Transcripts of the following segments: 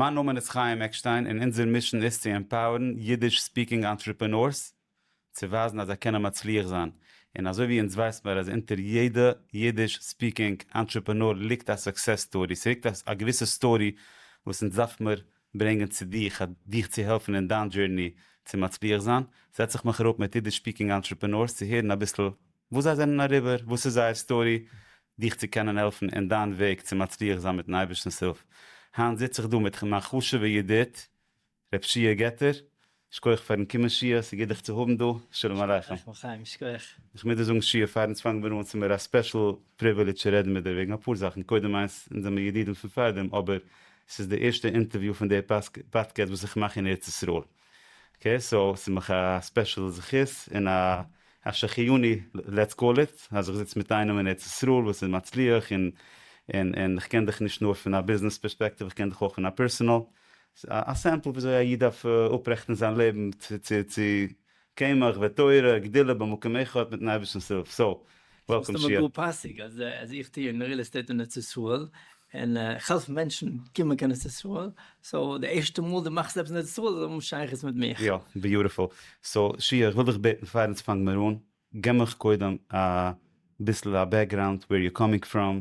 מיין נאמען איז חיים עקשטיין און אונזער מישען איז צו עמפאוערן אידיש ספיקינג אנטרעפענארס צו ווייזן אז זיי קענען מצליח זיין, און אזוי ווי אונז ווייס מיר אז אונטער יעדע אידיש ספיקינג אנטרעפענאר ליגט א סוקסעס סטארי, ס'ליגט א געוויסע סטארי וואס אונז דארף מיר ברענגען צו דיך דיך צו העלפן אין דיין דזשורני צו מצליח זיין, זעץ איך מיך אראפ מיט אידיש ספיקינג אנטרעפענארס צו הערן אביסל וואס זיי זענען אריבער, וואס איז זייער סטארי, דיך צו קענען העלפן אין דיין וועג צו מצליח זיין מיט'ן אייבערשטנ'ס הילף. היינט זיץ איך דא מיט מיין חשוב'ע ידיד ר' פשיהא געטער, שקויעך פאר'ן קומען שיהא, ס'גוט דיך צו האבן דא, שלום עליכם. שלום עליכם חיים, שקויעך. איך מוז דיר זאגן שיהא, פאר אונז פאנגן מיר אן, ס'איז מיר א ספעשל פריווילידזש צו רעדן מיט דיר וועגן אפאר זאכן, קודם איינס, אונז זעמיר ידידים פון פארדעם, אבער ס'איז די ערשטע אינטערוויו פון די פאדקעסט וואס איך מאך אין ארץ ישראל. אקעי סאו ס'איז מיך א ספעשל זכות און א אפשר חיוני לעטס קאל איט אז איך זיץ מיט איינעם אין ארץ ישראל וואס איז מצליח און און און איך קען דיך נישט נאר פון א ביזנעס פערספעקטיוו איך קען דיך אויך אין א פערסענעל א סעמפל וויאזוי א איד דארף אפרעכטן זיין לעבן צו צו צו קמח ותורה גדילה במקום אחד מיטן אייבערשטנ'ס הילף סאו וואלקאם שיע. ס'איז מסתמא גאר פאסיג אז איך טוה אין ריעל עסטעיט אין ארץ ישראל, און איך העלף מענטשן קומען קיין ארץ ישראל, סאו די ערשטע מאל דו מאכסט עפעס אין ארץ ישראל זאל האבן שייכות מיט מיך. יא, ביוטיפול. סאו שיע, איך וויל דיך בעטן פאר אונז פאנגן מיר אן, גיב מיך קודם אביסל א בעקגראונד, וועיר יו קאמינג פראם,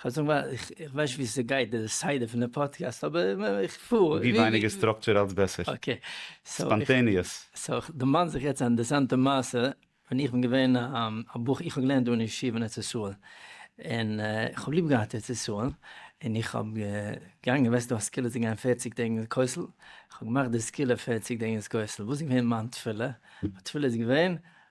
כ'וועל זאגן ווייל איך ווייס נישט ווי ס'גייט די סדר פון די פאדקעסט אבער איך פאר ווי ווייניגער סטראקטשער אלץ בעסער. אקעי. ספאנטעניעס. סאו כ'דערמאן זיך יעצט א אינטערסאנטע מעשה ווען איך בין געווען א בחור איך האב געלערנט דא אין ישיבה אין ארץ ישראל און איך האב ליב געהאט ארץ ישראל און איך האב געגאנגען וועסט דו א סקילה צו גיין פערציג טעג אין כותל איך האב געמאכט די סקילה פערציג טעג אין כותל וואס איז געווען מיין תפילה? מיין תפילה איז געווען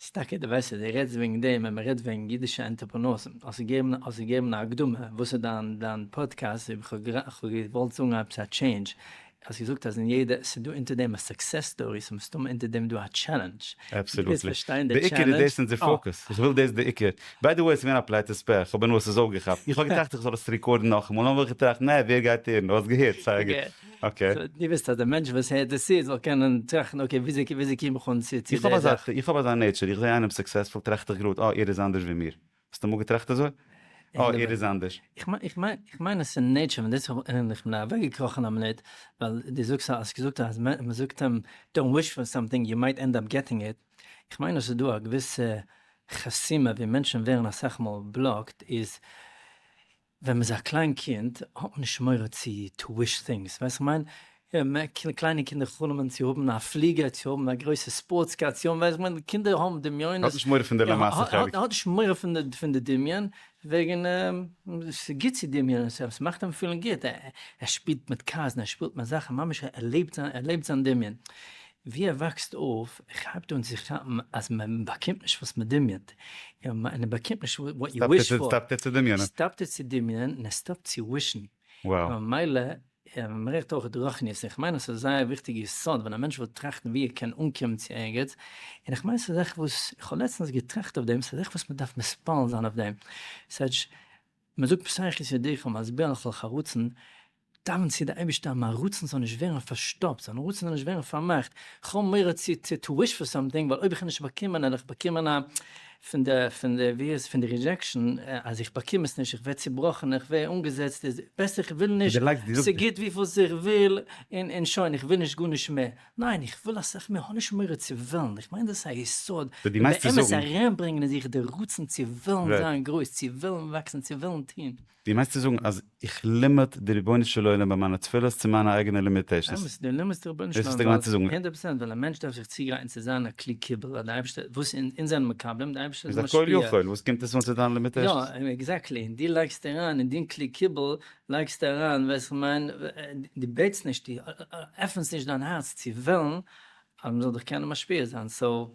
ס'איז טאקע די בעסטע דו רעדסט וועגן דעם ווען מ'רעדט וועגן אידישע ענטערפרענורסים. האסט געגעבן האסט געגעבן א הקדמה וואס איז דיין דיין פאדקעסט איבער כ'האב גערע כ'האב געוואלט זאגן עפעס א טשעינדזש האסט געזאגט אז אין יעדע ס'איז דא אונטער דעם א סוקסעס סטארי ס'איז מסתמא אונטער דעם דא א טשעלענדזש. דו וועסט אבסעלוטלי. פארשטיין די בעיקר איז טשעלענדזש. דאס אונזער אה. פאקוס. איך וויל דאס בעיקר. ביי די וועי ס'איז געווען א פלאץ עס פעך אבער נו עס איז אויפגעכאפט. איך האב געטראכט איך זאל עס ריקארדן נאכאמאל און נאכדעם האב איך געטראכט נע ווער גייט הערן? האסט געהערט? סאיז א גוט. אקעי. סאו דו ווילסט אז די מענטש וואס הערט דאס צו זאל קענען טראכטן אקעי וויאזוי קום איך אן צו די זאך. איך האב אזא נעטשער, איך זע איינעם סוקסעספול טראכט איך גראד אה ער איז אנדערש ווי מיר. האסט אמאל געטראכט אזוי? אה ער איז אנדערש. איך מיין אז ס'איז נעטשער און דאס האב איך בין אוועקגעקראכן א מינוט ווייל דו זאגסט אז האסט געזאגט אז מ'זאגט אים דאנט וויש פאר סאמטינג יו מייט ענד אפ געטינג איט, איך מיין אז ס'איז דא א געוויסע חסימה ווי מענטשן ווערן אסאך מאל בלאקד איז ווען מ'איז א קליין קינד האט מען נישט מורא צו טו וויש טינגס, ווייסט איך מיין, קליינע קינדער חלומ'ן צו האבן א פליגער, צו האבן א גרויסע ספארטס קאר, צו האבן, ווייסט איך מיין, קינדער האבן דמיונות, האט נישט מורא פון די למעשה חלק. האט נישט מורא פון די דמיון, וועגן ס'איז גוט צו דמיונ'ען, ס'מאכט אים פילן גוט, ער שפילט מיט קארס און ער שפילט מיט זאכן, ממש ער לעבט זיין דמיון, ווי ער וואקסט אויף כאפט אן צו כאפן אז מען באקומט נישט וואס מען דמיונ'ט, און מען באקומט נישט וואט יו וויש פאר. סטאפט ער צו דמיונ'ען. סטאפט ער צו דמיונ'ען און ער סטאפט צו ווישן. און ממילא מערקט אויך רוחניות, און כ'מיין אז ס'איז זייער וויכטיג יסוד ווען א מענטש וויל טראכטן ווי ער קען אנקומען צו ערגעץ, און כ'מיין ס'איז זאך וואס איך האב לעצטענס געטראכט אויף דעם, ס'איז זאך וואס מען דארף מספעל זיין אויף דעם, ס'הייטש, מען זאגט פסח יסודך ומזבח לכל חרוצן, דאווען צו די אייבערשטער אז מיין רצון זאל נישט ווערן פארשטאפט, זיין רצון זאל נישט ווערן פארמאכט, כ'האב מורא צו צו טו וויש פאר סאמטינג, ווייל אויב איך נישט באקומען עלעך באקומען א פון די פון די ווי איז פון די רידזשעקשן אז איך באקום עס נישט איך ווער צובראכן איך ווער אנגעזעצט איז בעסער איך וויל נישט ס'גוט וויפיל איך וויל און און שוין איך וויל נישט גארנישט מער, ניין איך וויל אסאך מער האב נישט מורא צו וועלן, איך מיין דאס איז א יסוד און באמת אריינברענגען אין זיך די רצון צו וועלן זיין גרויס צו וועלן וואקסן צו וועלן טון. דו מיינסט צו זאגן אז איך לימיט די רבונו של עולם ביי מיינע תפילות צו מיינע אייגענע לימיטעישאנס? אמת, דו לימיטסט די רבונו של עולם ווייל, הונדערט פראצענט, ווייל א מענטש דארף זיך צוגרייטן צו זיין א כלי קיבול אז די אייבערשטער, וואס אונז זענען מקבלים, די אייבערשטער איז משפיע. איז א כל יכול, וואס קומט עס אן צו דיין לימיטעישאנס? יא, עקזעקטלי, און דו לייגסט אריין אין דין כלי קיבול, לייגסטו אריין, ווייסט איך מיין, דו בעטסט נישט, דו עפענסט נישט דיין הארץ צו וועלן אז מ'זאל דיך קענען משפיע זיין, סאו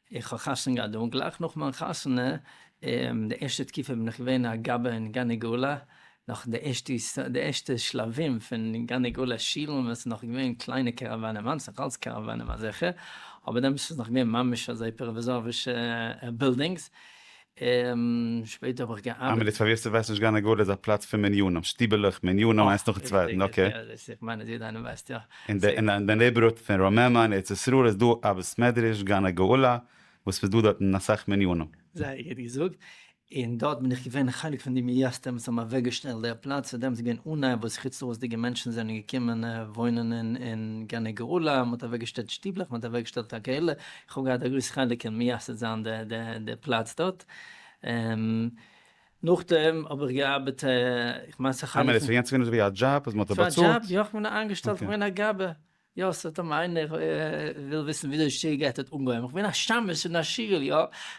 איך האב חתונה געהאט דא, גלייך נאך מיין חתונה, און די ערשטע תקופה בין איך געווען א גבאי אין גני גאולה, נאך די ערשטע די ערשטע שלבים פון גני גאולה שילן ווען עס איז נאך געווען קליינע קאראוואנען, היינט איז נאך אלץ קאראוואנען אזעלכע, אבער דעמאלס איז נאך געווען ממש אזוי פראוועזארישע בילדינגס, און שפעטער האב איך געארבעט. איין מינוט, פאר ווער ס'ווייסט נישט גן עגלה איז א פלאץ פון מניינים, שטיבעלעך, מניינים איינס נאכן צווייטן, אקעי. איך מיין אז יעדער איינער ווייסט יא. אין די אין די נעיבערהוד פון רוממה אין ארץ ישראל איז דא א בית מדרש גן הגאולה וואס ס'איז דא דארטן אסאך מניינים. זייער גוט געזאגט. און דארט בין איך געווען חלק פון די מייסדים וואס האבן אוועק געשטעלט דער פלאץ, פאר דעם איז געווען אן עיר וואס חוץ לארץ'דיגע מענטשן זענען געקומען וואוינען אין גן הגאולה, מ'האט אוועק געשטעלט שטיבלעך, מ'האט אוועק געשטעלט א קהלה, כ'האב געהאט א גרויס חלק אין מייסד זיין די פלאץ דארט, און נאכדעם האב איך געארבעט, איך מיין ס'האט אנגעהויבן. כ'מיין עס איז געווען אזויווי א דזשאב אז מ'האט דיר באצאלט. ס'איז א דזשאב, יא, כ'בין א איינגעשטעלטע, כ'בין א געבער, יא, ס'האט אים איינער וויל וויסן וויאזוי שטייגערט האט אנגעהויבן, כ'בין א שמש אין א שול, יא,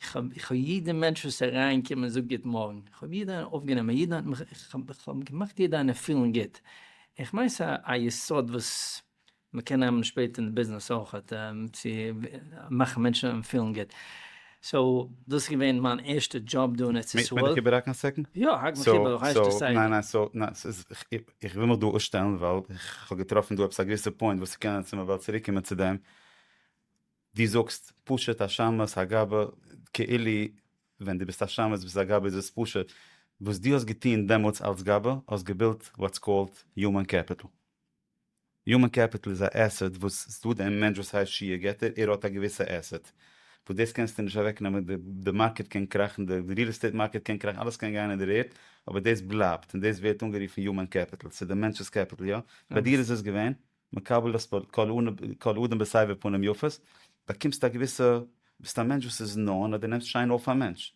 איך האב יעדע מענטש וואס אריין קומט און זאגט גוט מארגן, איך האב יעדע איינעם אויף גענומען, יעדע איינעם איך האב געמאכט יעדע איינעם פילן גוט, איך מיין ס'איז א יסוד וואס מען קען נעמען שפעטער אין די ביזנעס אויך צו מאכן מענטשן פילן גוט, סאו דאס איז געווען מיין ערשטע דזשאב דא אין ארץ ישראל. מעג איך איבער האקן א סעקענד? יא האק מיך איבער איך הייס דא סייווי. ניין ניין סאו ניין ס'איז איך וויל מיך דא אויסשטעלן ווייל איך האב געטראפן דא עפעס א געוויסע פוינט וואס ס'קען צו מען וועל צוריק קומען צו דעם, דו זאגסט פשוט א שמת הגבה כאילו ווען דו ביסט א שמת ביסט א גבה איז עס פשוט וואס דו האסט געטוהן דעמאלטס אלס גבה האסט געבילט וואטס קאלד יומען קעפיטל. יומען קעפיטל איז א עסעט וואס ס'דא דעם מענטש וואס הייסט שי' געט ער ער האט א געוויסע עסעט וואס דאס קענסטו נישט אוועק נעמען די די מארקעט קען קראכן די ריעל עסטעיט מארקעט קען קראכן אלעס קען גיין אין דער ערד אבער דאס בלייבט און דאס ווערט אנגערופן יומען קעפיטל ס'איז דער מענטש'ס קעפיטל יא? ביי דיר איז עס געווען? מקבל דאס פאר כל אדם בסבר פנים יפות, באקומסט א געוויסע, ביסט א מענטש וואס איז נאנט אז דו נעמסט שיין אויף א מענטש,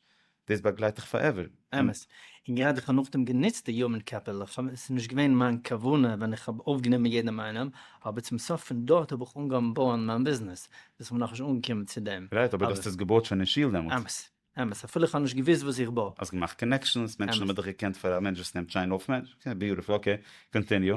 דאס באגלייט דיך פארעווער. אמת, און גראדע איך האב נאכדעם גענוצט די יומען קעפיטעל, עס איז נישט געווען מיין כוונה ווען איך האב אויפגענומען יעדעם איינעם, אבער צום סוף פון דארט האב איך אנגעהויבן בויען מיין ביזנעס, ביז כ'בין נאכנישט אנגעקומען צו דעם. רייט, אבער דו האסט עס געבויט שוין אין שול דעמאלט. אמת, אמת, אפילו איך האב נישט געוואוסט וואס איך בוי. האסט געמאכט קאנעקשאנס, מענטשן האבן דיך געקענט פאר א מענטש וואס נעמט שיין אויף מענטשן, ביוטיפול, אקעי, קאנטיניו.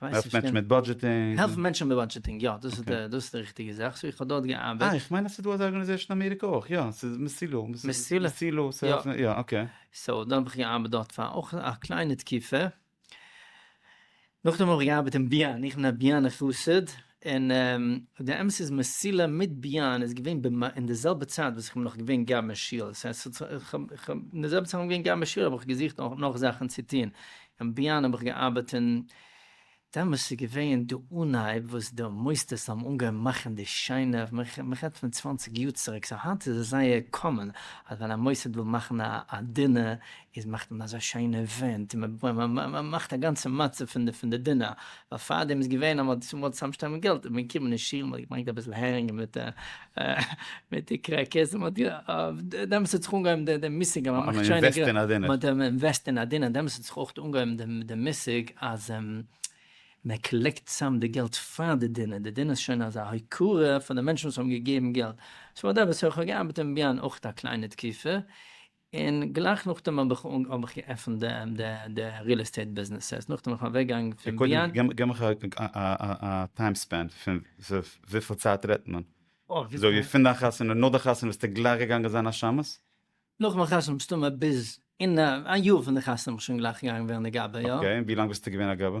העלפט מענטשן מיט בודזשעטינג. העלפן מענטשן מיט בודזשעטינג, יא, דאס איז דאס איז די ריכטיגע זאך, סאו איך האב דארט געארבעט. אה, איך מיין אז ס'איז דא אזא ארגאניזעישן אין אמעריקע אויך, יא, ס'איז מסילא. מסילא? מסילא, ס'העלפט, יא, אקעי. סאו דאן האב איך געארבעט דארט פאר אויך א קליינע תקופה. נאכדעם האב איך געארבעט אין ביאן, איך בין א ביאנער חסיד, און די אמת איז מסילה מיט ביאן איז געווען ב מ אין די זעלבע צייט וואס איך בין נאך געווען גאב אין שול, ס'הייסט ס'האט זיך איך האב איך האב אין די זעלבע צייט וואס איך בין געווען גאב אין שול האב איך געזוכט נאך זאכן צו טון, אין ביאן האב איך געארבעט און דעמאלס איז געווען די אנהייב וואס די מוסדות האבן אנגעהויבן מאכן די שיינע, מ'רעדט פון צוואנציג יאר צוריק, סאו היינט איז עס זייער קאמאן אז ווען א מוסד וויל מאכן א דינער איז מאכט מען אזא שיינע ווענט און מען מאכט א גאנצע מצב פון די דינער, ווייל פארדעם איז געווען אז מען האט געמוזט צוזאמשטעלן געלט איז מען געקומען אין שול מען האט געברענגט אביסל הערינג מיט די קרעקערס און דעמאלטס האט זיך אנגעהויבן די מושג אז מען מאכט שיינע געלט, מען האט אינוועסט אין א דינער, דעמאלטס האט זיך אויך אנגעהויבן די מושג אז מען קאלעקט צוזאם די געלט פאר די דינער, די דינער איז שוין אזא הוקרה פאר די מענטשן וואס האבן געגעבן געלט, סאו אט דעמאלטס האב איך געארבעט אין ביהמ ד אויך א קליינע תקופה, און גלייך נאכדעם האב איך אנג האב איך געעפענט די די די ריעל עסטעיט ביזנעסעס נאכדעם בין איך אוועק געגאנגען פון ביד. קודם גיב מיך א טיים ספען פון וויפיל צייט רעדט מען? זאג מיר פון דיין חתונה נאך די חתונה ביסטו גלייך געגאנגען זיין א שמש? נאך מיין חתונה מסתמא ביז אין א יאר פון די חתונה בין איך שוין גלייך געגאנגען ווערן א גבאי יא. אקעי און ווי לאנג ביסטו געווען א גבאי?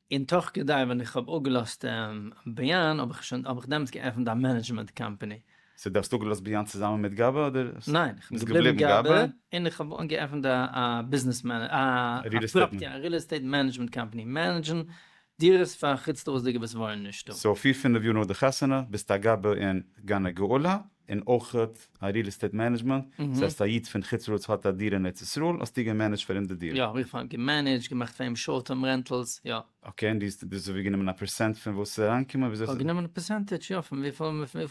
און תוך כדי ווען איך האב אפגעלאזט ביאן האב איך שוין האב איך דעמאלטס געעפנט א מענעדזשמענט קאמפעני. סאו דו האסט אפגעלאזט ביאן צוזאמען מיט גאבע אדער? ניין, איך בין געבליבן גאבע און איך האב געעפנט א א ביזנעס מענע א ריעל עסטעיט מענעדזשמענט קאמפעני, מענעדזשן דירות פאר חוץ לארץ'דיגע וואס וואוינען נישטא. סאו פיר פינעף יאר נאך די חתונה ביסטו א גאבע אין גן הגאולה? און אויך א ריעל עסטעיט מענעדזשמענט, דאס הייסט א איד פון חוץ לארץ האט א דירה אין ארץ ישראל, האסטו געמענעדזשט פאר אים די דירה? יא, איך האב געמענעדזשט, געמאכט פאר אים שארט טערם רענטעלס, יא. אקעי, און דו האסט ווי גענומען א פערסענט פון וואס איז אריינגעקומען? וויאזוי איך האב גענומען א פערסענטעדזש, יא, פון וויפיל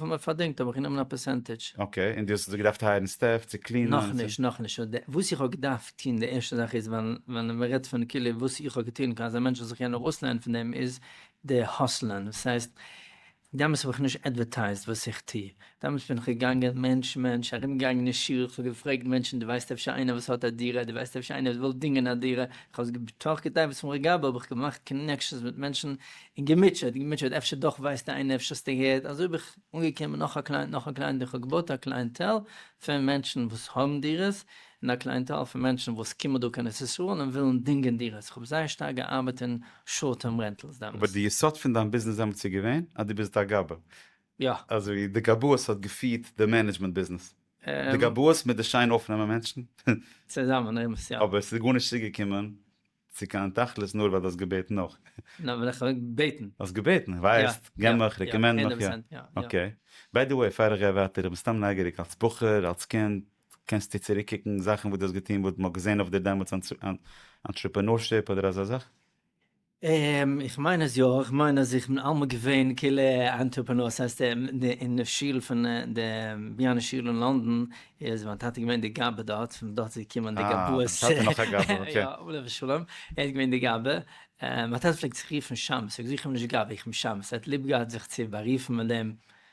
מען פארדינגט האב איך גענומען א פערסענטעדזש. אקעי, און דו האסט דאס געדארפט הייערן סטעף צו קלינען? נאכנישט, נאכנישט, וואס איך האב געדארפט טון, די ערשטע זאך איז, ווען מען רעדט פון כאילו וואס איך האב געטון, אזא מענטש זאל זיך קענען ארויסלערנען פון דעם, איז די האסלען, דאס הייסט, דעמאלס האב איך נישט עדווערטייזט וואס איך טו, דעמאלס בין איך געגאנגען מענטש מענטש, ארום געגאנגען אין שול, איך האב געפרעגט מענטשן דו ווייסט אפשר איינער וואס האט א דירה, דו ווייסט אפשר איינער וואס וויל דינגען א דירה, איך האב עס בתוך כתב עת פון רגבה האב איך געמאכט קאנעקשאנס מיט מענטשן און געמוטשעט געמוטשעט אפשר דאך ווייסט איינער אפשר האסטו געהערט, אזוי בין איך אנגעקומען נאך א קלייענט נאך א קלייענט און איך האב געבויט א קלייענטעל פון מענטשן וואס האבן דירות און א קלייענטעל פון מענטשן וואס קומען דא קיין ארץ ישראל און ווילן דינגען דירות, איך האב זייער שטארק געארבעט און. שארט טערם רענטעלס דעמאלס. אבער די יסוד פון דיין ביזנעס דעמאלטס איז געווען אז דו ביסט א גבאי. יא. אזויווי די גבאות האט געפירט די מענעדזשמענט ביזנעס. די גבאות מיט די שיין אויפנעמען מענטשן. צוזאמען אמת יא. אבער עס איז גארנישט צוגעקומען צו קיין תכלית נאר ווייל דו האסט געבעטן נאך. נאר ווייל איך האב געבעטן. האסט געבעטן, ווייסט, גיב מיך, רעקאמענד מיך, יא. אקעי. ביי די וועי פאר איך גיי ווייטער, איך בין סתם נייגעריג אלס בחור, אלס קינד. קענסטו צוריקקוקן זאכן וואס דו האסט געטון וואס מ'האט געזען אויף דיר דעמאלטס אנטרעפענורשיפ אדער אזא זאך? איך מיין אז יא, איך מיין אז איך בין אלעמאל געווען כאילו א אנטרעפענור, ס'הייסט אין די שול פון די ביאנע שול אין לאנדאן איז מיין טאטע געווען די גאבע דארט, פון דארט איז געקומען די גאבאות, אה, דיין טאטע נאך א גאבע, אקעי, יא, עליו השלום, ער איז געווען די גאבע, מיין טאטע פלעגט זיך רופן שמס, איך זיך אים נישט גאבע, איך בין שמס, ער האט ליב געהאט זיך צו בארופן מיט דעם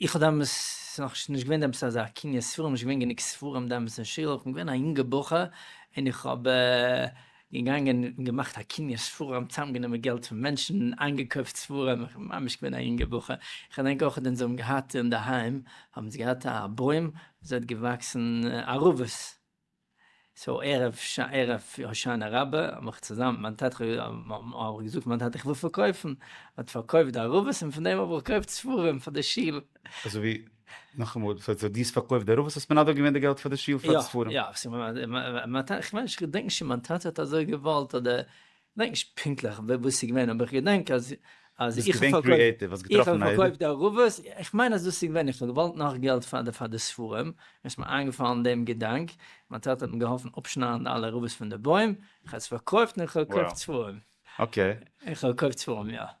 איך האב דעמאלס, ס'איז נאך נישט געווען דעמאלס אזא קניות ספרים, נישט געווען גענוג ספרים דעמאלס אין שול, כ'בין געווען א יונגע בחור, און איך האב געגאנגען און געמאכט א קניות ספרים, צוזאמגענומען געלט פון מענטשן, איינגעקויפט ספרים, איך בין ממש געווען א יונגע בחור, איך געדענק אויך ווען זיי האבן געהאט אינדערהיים, האבן זיי געהאט א בוים וואו ס'האט געוואקסן ערבות, סאו ערב הושענה רבה האב איך צוזאמען מיט מיין טאטע האב איך געזאגט מיין טאטע איך וויל פארקויפן, ער האט פארקויפט די ערבות און פון דעם האב איך געקויפט ספרים פאר די שול. אזוי ווי, נאכאמאל, סאו דו האסט פארקויפט די ערבות האסט מנדב געווען די געלט פאר די שול פאר די ספרים? יא, יא, איך מיין איך געדענק נישט צו מיין טאטע האט אזוי געוואלט אדער כ'דענק נישט פונקטליך וואס ס'איז געווען אבער כ'געדענק אז אז איך האב פארקויפט די ערבות, כ'מיין אז דאס איז געווען איך האב געוואלט נאך געלט פאר די פאר די ספרים, און ס'איז מיר איינגעפאלן דעם געדאנק, מיין טאטע האט מיר געהאלפן אפשניידן אלע ערבות פון די בוים, כ'האב עס פארקויפט און כ'האב געקויפט ספרים. אקעי. און כ'האב געקויפט ספרים יא.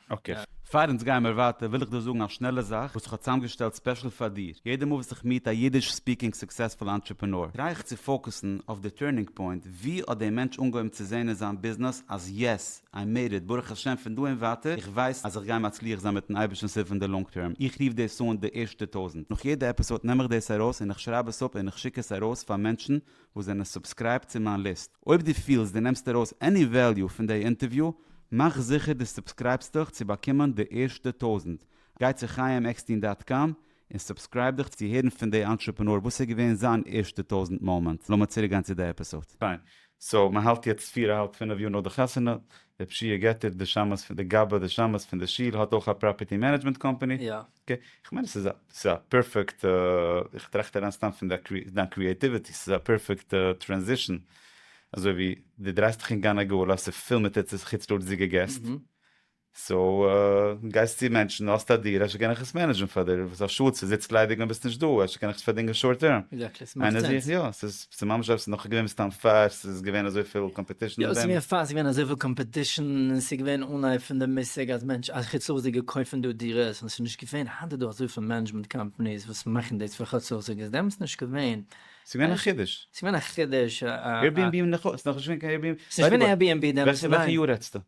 אקעי. פאר אונז גייען מיר ווייטער וויל איך דיר זאגן א שנעלע זאך וואס איך האב צוזאמגעשטעלט ספעשל פאר דיר. יעדע מאל וואס איך מיעט א אידיש ספיקינג סוקסעספול אנטרעפענאר טריי איך צו פאוקוסן אויף די טורנינג פוינט, ווי האט דער מענטש אנגעהויבן צו זעהן אין זיין ביזנעס אז יעס, איי מעיד איט, ברוך השם פון דא און ווייטער איך ווייס אז איך גיי מצליח זיין מיטן אייבערשטנ'ס הילף אין די לאנג טערם. איך רוף דאס אן די ערשטע טויזנט. נאך יעדע עפיסאד נעם איך דאס ארויס און איך שרייב עס אפ און איך שיק עס ארויס פאר מענטשן וואס זענען סובסקרייבט צו מיין ליסט. אויב דו פילסט דו נעמסט ארויס עני וועליו פון דעי אינטערוויו, מאך זיכער דו סובסקרייבסט דיך צו באקומען די ערשטע טויזנט. גיי צו חיים עקסטין דאט קאם און סובסקרייב דיך צו הערן פון דעי אנטרעפענאר וואס איז געווען זיין ערשטע טויזנט מאמענט. לאמיר צוריק גיין צו די עפיסאד. פיין. סאו מען האלט יעצט פיר אהאלב פינעף יאר נאך די חתונה, די פשיעה געטער, די שמות פון די גאבע, די שמות פון די שול האט אויך א פראפערטי מענעדזשמענט קאמפעני. יא. אקעי, איך מיין עס איז א פערפעקט, איך טראכט אריין סתם פון דיין קריעטיוויטי, עס איז א פערפעקט טרענזישאן, אזוי ווי דו דרייסט דיך אין גן הגאולה, עס איז פיל מיט חוץ לארד'סדיגע געסט, סאו גייסט צו מענטשן, האסט א דירה, אפשר קען איך עס מענעדזשן פאר דיר, עס איז א שאד ס'זיצט ליידיג ווען ביסט נישט דא, אפשר קען איך עס פארדינגען שארט טערם, איינער זוכט יא, ס'איז. ס'איז ממש עפעס נאך געווען סתם פאר ס'איז געווען אזויפיל קאמפעטישן אין דעם? יא, ס'איז געווען פאר ס'איז געווען אזויפיל קאמפעטישן, און ס'איז געווען אנהייב פון די מושג אז מענטש אז חוץ לאז'דיגע קויפן דא דירות, און ס'איז נישט געווען, היינט איז דא אזויפיל מענעדזשמענט קאמפאניס וואס מאכן דאס פאר חוץ לאז'דיגע, איז דעמאלטס נישט געווען. ס'איז געווען א חידוש. ס'איז געווען א חידוש. עירביענבי איז נאך נישט געווען קיין עירביענבי. ס'איז נישט געווען עירביענבי דעמאלטס, ניין. וועלכע יאר רעדסטו?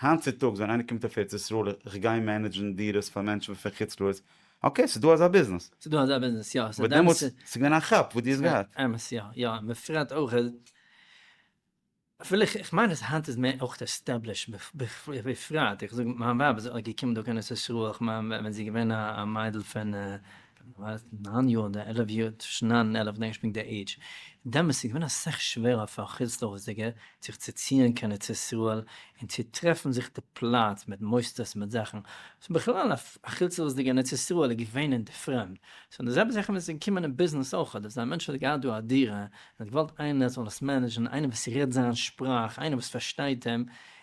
היינט צו טאגס ווען איינער קומט אויף ארץ ישראל איך גיי מענעדזשן דירות פאר מענטשן וואס פון חוץ לארץ, אקעי ס'איז דא אזא ביזנעס. ס'איז דא אזא ביזנעס יא. אבער דעמאלטס ס'איז געווען א כאפ וואס דו האסט געהאט. אמת יא יא און בפרט אויך אז אפילו איך מיין אז היינט איז מער אויך עסטעבליש בפרט איך זאג מיין ווייב איז געקומען דא קיין ארץ ישראל איך מיין ווען זי איז געווען א מיידל פון ווען ער איז געווען ניין יאר אדער עלף יאר, צווישן ניין און עלף דענק איך פונקט די עידזש, דעמאלס איז געווען אסאך שווערער פאר א חוץ לארץ'דיגער זיך צו ציען קיין ארץ ישראל און צו טרעפן זיך די פלאץ מיט מוסדות און מיט זאכן, סאו בכלל א חוץ לארץ'דיגער אין ארץ ישראל איז געווען אין די פרעמד, סאו די זעלבע זאך ווען ס'איז געקומען אין ביזנעס אויך, אדער ס'איז א מענטש וואס האט געהאט דא א דירה און האט געוואלט איינער זאל עס מענעדזשן, איינער וואס רעדט זיין שפראך, איינער וואס פארשטייט אים,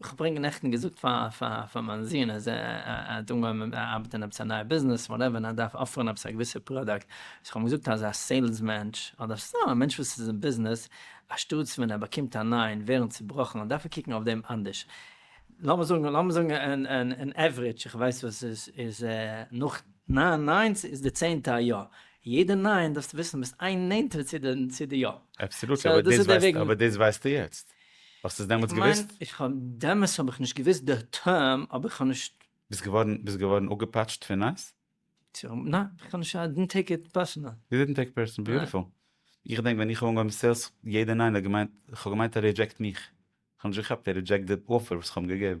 איך האב פאריגע נעכטן געזאגט פאר מיין זון אז ער האט אנגעהויבן ארבעטן אין עפעס א נייע ביזנעס וואטעווער און ער דארף אפערן עפעס א געוויסע פראדוקט, סאו איך האב אים געזאגט אז א סעילס מענטש אדער סתם א מענטש וואס איז אין ביזנעס אנשטאטס ווען ער באקומט א ניין ווערן צובראכן דארף ער קוקן אויף דעם אנדערש, לאמיר זאגן לאמיר זאגן אין עוורידזש איך ווייס וואס עס איז נאך ניין ניינס איז די צענטע א יא, יעדע ניין דארפסטו וויסן ביסט איין נענטער צו די יא. אבסעלוטלי אבער דאס ווייסטו יעצט. האסט עס דעמאלטס געוויסט? איך מיין, דעמאלטס האב איך נישט געוויסט די טערם, אבער איך האב נישט. ביסט געווארן ביסט געווארן אפגעפאטשט פון נאס? ניין, איך קען נישט, איי דינט טעיק איט פערסענעל. יו דידנט טעיק פערסענעל, ביוטיפול. איך געדענק ווען איך האב אנגעהויבן סעילס, יעדער ניין האט געמיינט, איך האב געמיינט ער רידזשעקט מיך, איך האב נישט געכאפט ער רידזשעקט די אפער וואס איך האב אים געגעבן.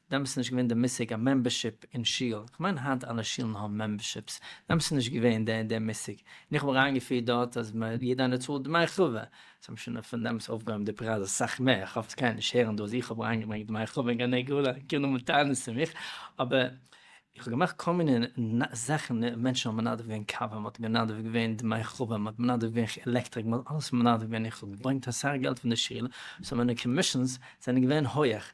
וועמען ס'איז נישט געווען די מושג א מעמבערשיפ אין שול, איך מיין היינט אלע שולן האבן מעמבערשיפס, וועמען ס'איז נישט געווען די די מושג, און איך האב אריינגעפירט דארט אז מ יעדע איינער צאלט דמי חובה, זיי האבן שוין אויף פון דעמאלטס אויפגעהויבן די פרייז אסאך מער, איך האף עס קיינער נישט הערן דא אז איך האב אריינגעברענגט דמי חובה אין גני גאולה, קומען נאר מיט טענות צו מיך, אבער איך האב געמאכט כל מיני נ זאכן, מענטשן האבן מנדב געווען קאווע, מען האט מנדב געווען דמי חובה, מען האט מנדב געווען עלעקטריק, מען האט אלעס מנדב געווען, איך האב געברענגט אסאך געלט פון די שול, סאו מיינע קאמישאנס זענען געווען הויעך,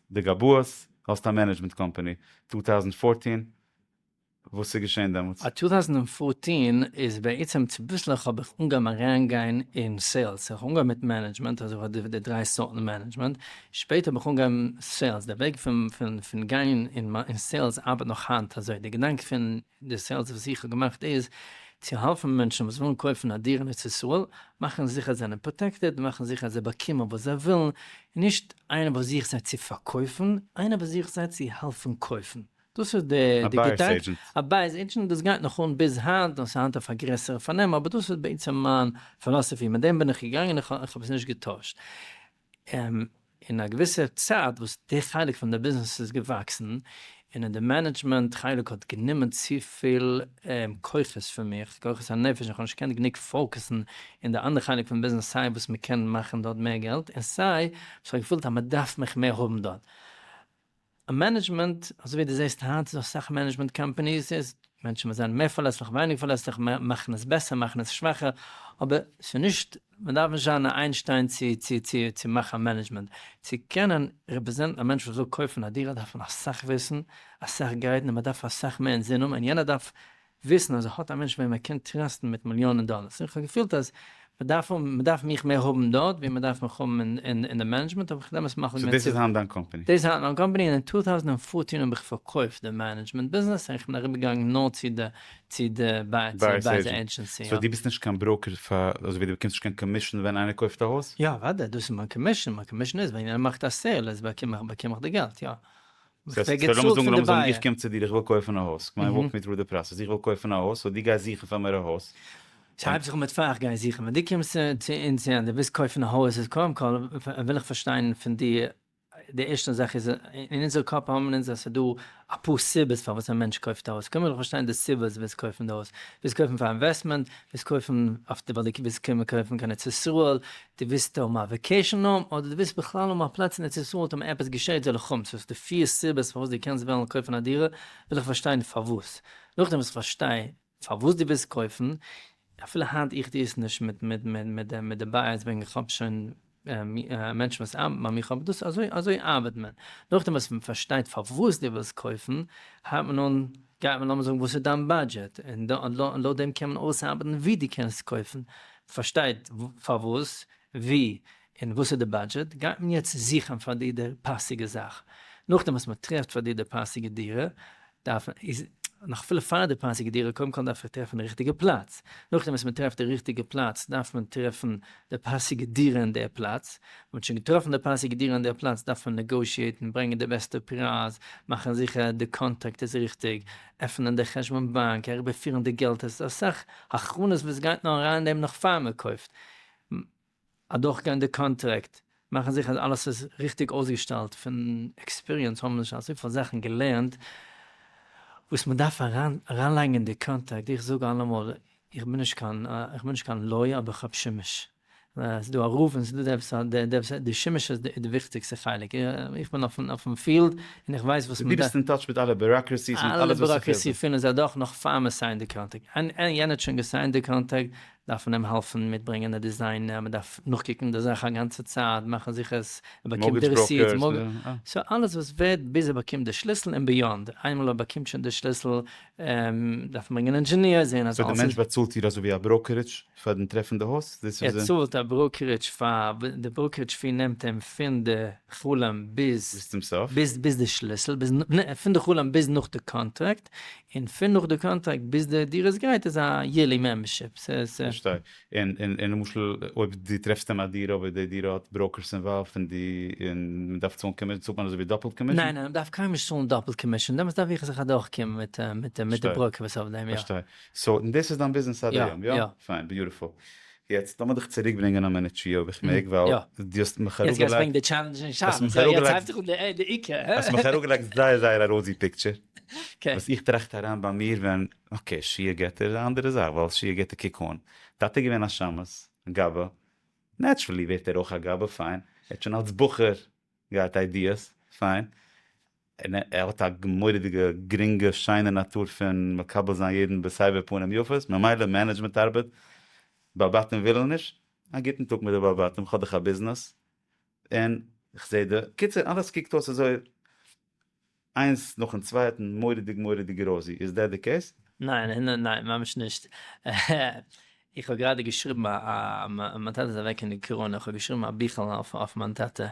די גבאות האסט א מענעדזשמענט קאמפאני, טו טאוזענד פארטין, וואס איז געשען דעמאלטס? א טו טאוזענד און פארטין איז בעצם צוביסלעך האב איך אנגעהויבן אריינגיין אין סעילס, איך האב אנגעהויבן מיט מענעדזשמענט, אזוי וואס די דריי סארטן מענעדזשמענט, שפעטער האב איך אנגעהויבן סעילס, די וועג פון גיין אין סעילס ארבעט נאך היינט אזוי, די געדאנק פון. די סעילס וואס איך האב געמאכט איז צו העלפן מענטשן וואס ווילן קויפן א דירה אין ארץ ישראל, מאכן זיכער זיי זענען פראטעקטעד, מאכן זיכער זיי באקומען וואס זיי ווילן, נישט איינער וואס זוכט זיי צו פארקויפן, איינער וואס זוכט זיי צו העלפן קויפן. דאס איז די געדאנק, א בייערס עידזשענט, דאס גייט נאך אן ביז היינט, נאר ס'איז היינט אויף א גרעסערע פארנעם, אבער דאס איז בעצם מיין פילאסעפי, מיט דעם בין איך געגאנגען, איך האב עס נישט געטוישט. און אין א געוויסער צייט וואס די חלק פון די ביזנעס איז געוואקסן, און אין די מענעדזשמענט חלק האט גענומען צופיל כוחות פון מיר, כוחות הנפש, איך האב נישט געקענט גענוג פאוקעסן אין די אנדערע חלק פון ביזנעס סיי וואס מען קען מאכן דארט מער געלט, און סיי וואס איך האב געפילט אז מען דארף מיך מער האבן דארט. א מענעדזשמענט, אזוי ווי דו זעסט היינט איז אסאך מענעדזשמענט קאמפאניס איז מענטשן וואס זענען מער פארלעסליך ווייניג פארלעסליך מאכן עס בעסער מאכן עס שוואכער, אבער ס'איז נישט מען דארף נישט זיין א איינשטיין צו צו צו צו מאכן א מענעדזשמענט, צו קענען רעפרעזענטן א מענטש וואס וויל קויפן א דירה דארף מען אסאך וויסן, אסאך גיידן און מען דארף אסאך מער אינזינען און יענער דארף וויסן אז ער האט א מענטש וועם ער קען טראסטן מיט מיליאנען דאלערס, איך האב געפילט אז מען דארף האבן, מען דארף מיך מער האבן דארט ווי מען דארף מיך האבן אין אין די מענעדזשמענט, האב איך דעמאלס מחליט געווען צו. סאו דאס איז היינט דיין קאמפעני? דאס איז היינט מיין קאמפעני, און אין טו טאוזנט און פֿאָרצן האב איך פארקויפט די מענעדזשמענט ביזנעס, און איך בין אריבערגעגאנגען נאר צו די צו די בייערס עידזשענסי. סאו דו ביסט נישט קיין בראוקער פאר, אזוי ווי דו באקומסט נישט קיין קאמישן ווען איינער קויפט א הויז? יא, אוודאי, דאס איז מיין קאמישן, מיין קאמישן איז ווען יענער מאכט א סעיל, איז באקום איך באקום איך די געלט, יא. זאגסט ער האט געצאלט פון די בייער. איך קום צו דיר איך וויל קויפן א הויז, כמיין וואלק מי טרו די פראסעס, איך וויל קויפן א הויז, סאו דו גייסט זוכן פאר מיר א הויז. שרייב זיך אן מיט פאר איך גיי זוכן, ווען דו קומסט צו אונז און דו ווילסט קויפן א הויז איז קודם כל וויל איך פארשטיין פון דיר, די ערשטע זאך איז אין אונזער קאפ האבן אונז אז ס'איז דא אפאר סיבות פארוואס א מענטש קויפט א הויז, קודם וויל איך פארשטיין די סיבה אז דו ווילסט קויפן די הויז, ווילסט קויפן פאר אינוועסטמענט, ווילסט קויפן אויף די ווייל דו ווילסט קומען קויפן כאן ארץ ישראל, די ווילסט האבן א וועקעישן האום אדער די ווילסט בכלל האבן א פלאץ אין ארץ ישראל אטעם עפעס געשעהט זאל איך האבן צו האסט די פיר סיבות פארוואס די קענסט וועלן קויפן א דירה וויל איך פארשטיין פארוואס נאכדעם וואס איך פארשטיי פארוואס די ווילסט קויפן אפילו היינט איך טוה עס נישט מיט מיט מיט מיט די מיט די בייערס וועגן איך האב שוין מענטשן וואס ארבעטן ביי מיך אבער דאס אזוי אזוי ארבעט מען נאכדעם וואס מען פארשטייט פארוואס די ווילסט קויפן הייבט מען אן גייט מען לאמיר זאגן וואס איז דיין באדזשעט און לויט דעם קען מען אויסארבעטן ווי די קענסט קויפן, פארשטייט פארוואס, ווי, און וואס איז די באדזשעט, גייט מען יעצט זוכן פאר דיר די פאסיגע זאך, נאכדעם וואס מען טרעפט פאר דיר די פאסיגע דירה, דארף מען, איז, נאך אפילו פאר די פאסיגע דירה, קודם כל דארף איך טרעפן די ריכטיגע פלאץ, נאכדעם וואס מען טרעפט די ריכטיגע פלאץ, דארף מען טרעפן די פאסיגע דירה אין דער פלאץ, מען האט שוין געטראפן די פאסיגע דירה אין דער פלאץ, דארף מען נעגאושיעטן, ברענגען די בעסטע פרייז, מאכן זיכער די קאנטראקט איז ריכטיג, עפענען די חשבון באנק, אריבערפירן די געלט, עס איז אסאך הכנות וואס גייט נאר אריין אין דעם נאך פאר מען קויפט, אדורכגיין די קאנטראקט, מאכן זיכער אז אלעס איז ריכטיג אויסגעשטעלט, פון עקספיריענס האבן מיר שוין אזויפיל זאכן געלערנט וואס מען דארף אריינלייגן אין די קאנטעקט, איך זאג אלעמאל איך בין נישט קיין איך בין נישט קיין לויער אבער איך האב שימוש, ס'איז דא א רוף און ס'איז דא עפעס א דעפ, די שימוש איז די וויכטיגסטע חלק, איך בין אויפן פיעלד און איך ווייס וואס מען דארף. דו ביסט אין טאטש מיט אלע ביוראקרעסיס מיט אלעס וואס ס'פעלט זיך. אלע ביוראקרעסי פילן זיי דאך נאך פאר מען סיינט די קאנטעקט, יענער האט שוין געסיינט די קאנטעקט, דארף מען אים העלפן מיט ברענגען די דיזיינער, מען דארף נאכקוקן די זאך א גאנצע צייט, מאכן זיכער עס ער באקומט די רעסיט, סאו אלעס וואס ווערט ביז ער באקומט די שליסל און ביאנד, איינמאל ער באקומט שוין די שליסל דארף מען ברענגען ענדזשעניר, זעהן אז אלעס איז. סאו די מענטש באצאלט דיר אזוי ווי א בראקערידזש פארן טרעפן די הויז? דאס איז. ער צאלט א בראקערידזש פאר, די בראקערידזש פי נעמט אים פון די חלום ביז. ביז צום סוף. ביז די שליסל, ביז, פון די חלום ביז נאך די קאנטראקט, און פון נאך די קאנטראקט ביז די דירה איז גרייט איז א יערלי מעמבערשיפ. פארשטיי. און למשל אויב די טרעפסט אים א דירה אבער די דירה האט בראוקערס אינוואלווד און די און מען דארף צאלן קאמישן צאלט מען אזויווי דאפעלט קאמישן? ניין ניין מען דארף קיינמאל נישט צאלן דאפעלט קאמישן דעמאלטס דארף איך זיך אדורך קומען מיט מיט די בראוקער וואס אויף דעם יא. פארשטיי. סאו דאס איז דיין ביזנעס עד היום יא? פיין ביוטיפול. יעצט לאמיר דיך צוריק ברענגען א מינוט שיעור איך מעג ווייל דו האסט מיך אראפגעלייגט זייער זייער א ראוזי פיקטשער וואס איך טראכט אריין ביי מיר ווען אקעי שיעור געטער איז א אנדערע זאך ווייל שיעור געטער קוק אן טאטע איז געווען א שמש גאבע נעטשרעלי ווערט ער אויך א גאבע פיין ער האט שוין אלס בחור גייט איידיעס, פיין. און ער האט א מורא'דיגע גרינגע שיינע נאטור פון מקבל זיין יעדן בסבר פנים יפות, ממילא מענעדזשמענט ארבעט, בעל בתים ווילן נישט, א גוטן טאג מיט די בעל בתים, כ'האב דאך א ביזנעס, און כ'זעה די, קיצור אלעס קוקט אויס אזוי איינס נאכן צווייטן מוראדיג מוראדיג ראזי, איז דעט די קעיס? ניין און ניין, ממש נישט. איך האב גראדע געשריבן א, מיין טאטע איז אוועק אין די קאראנע, איך האב געשריבן א ביכעלע אויף מיין טאטע,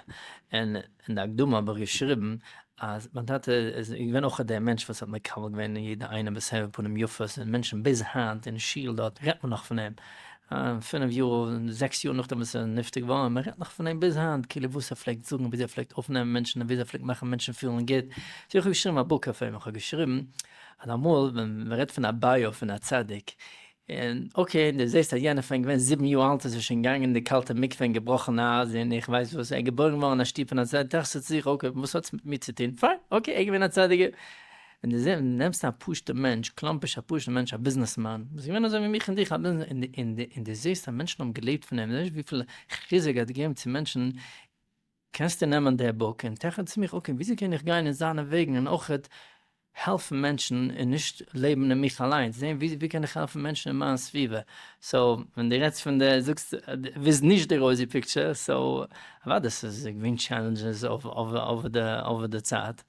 און אין די הקדמה האב איך געשריבן אז מיין טאטע איז געווען אויך דער מענטש וואס האט מקבל געווען יעדע איינעם בסבר פנים יפות, און מענטשן ביז היינט אין שול דארט רעדט מען נאך פון אים, פינף יאר און זעקס יאר נאכדעם וואס ער איז נפטר געווארן און מען רעדט נאך פון אים ביז היינט כאילו וואס ער פלעגט זאגן וויאזוי ער פלעגט אויפנעמען מענטשן און וויאזוי ער פלעגט מאכן מענטשן פילן גוט סאו איך האב געשריבן א בוק אויף אים איך האב געשריבן אז אמאל ווען מען רעדט פון א ביו פון א צדיק און אקעי און דו זעסט אז יענער פון געווען זיבן יאר אלט איז ער שוין געגאנגען אין די קאלטע מקווה און געבראכן א אייז און איך ווייס וואס ער איז געבוירן געווארן אין א שטוב פון א צדיק טראכסטו צו זיך אקעי וואס האט עס מיט מיר צו טון פיין אקעי ער איז געווען א צדיק. ווען דו זע, נעמסט א פשוט'ע מענטש, קלאמפיש א פשוט'ע מענטש א ביזנעסמאן, וואס איז געווען אזוי ווי מיך און דיך א ביזנעס, און די און די און דו זעסט אז מענטשן האבן געלעבט פון אים, דו זעסט וויפיל חיזוק ער האט געגעבן צו מענטשן, קענסטו נעמען די בוק און טעכען צו מיך, אקעי, וויאזוי קען איך גיין אין זיינע וועגן און אויכעט העלפן מענטשן און נישט לעבן אין מיך אליינס, זען ווי ווי קען איך העלפן מענטשן אין מיין סביבה, סאו, ווען דו רעדסט פון די, זאגסט ווילסט נישט די רויזי פיקטשער, סאו, אוודאי ס'איז געווען טשעלענדזשעס אויף אויף אויף די אויף די צייט.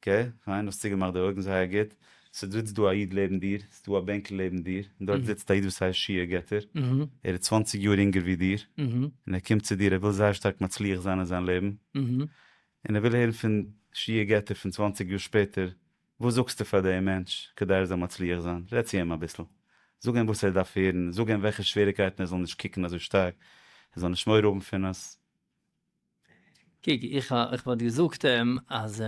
ק, פיין, האסט צוגעמאכט די אויגן זייער גוט. ס'זיצט דא א איד לעבן דיר, ס'דא א בענקל לעבן דיר, און דארט זיצט א איד וואס הייסט שי' געטער, ער איז צוואנציג יאר אינגער ווי דיר, און ער קומט צו דיר, ער וויל זייער שטארק מצליח זיין אין זיין לעבן, און ער וויל הערן פון שי' געטער פון צוואנציג יאר שפעטער, וואס זאגסטו פאר דעם מענטש כדי ער זאל מצליח זיין? רעד צו אים אביסל, זאג אים וואס ער דארף הערן, זאג אים וועלכע שוועריקייטן ער זאל נישט קוקן אזוי שטארק, ער זאל נישט מורא האבן פון עס. קוק, איך וואלט געזאגט אים אז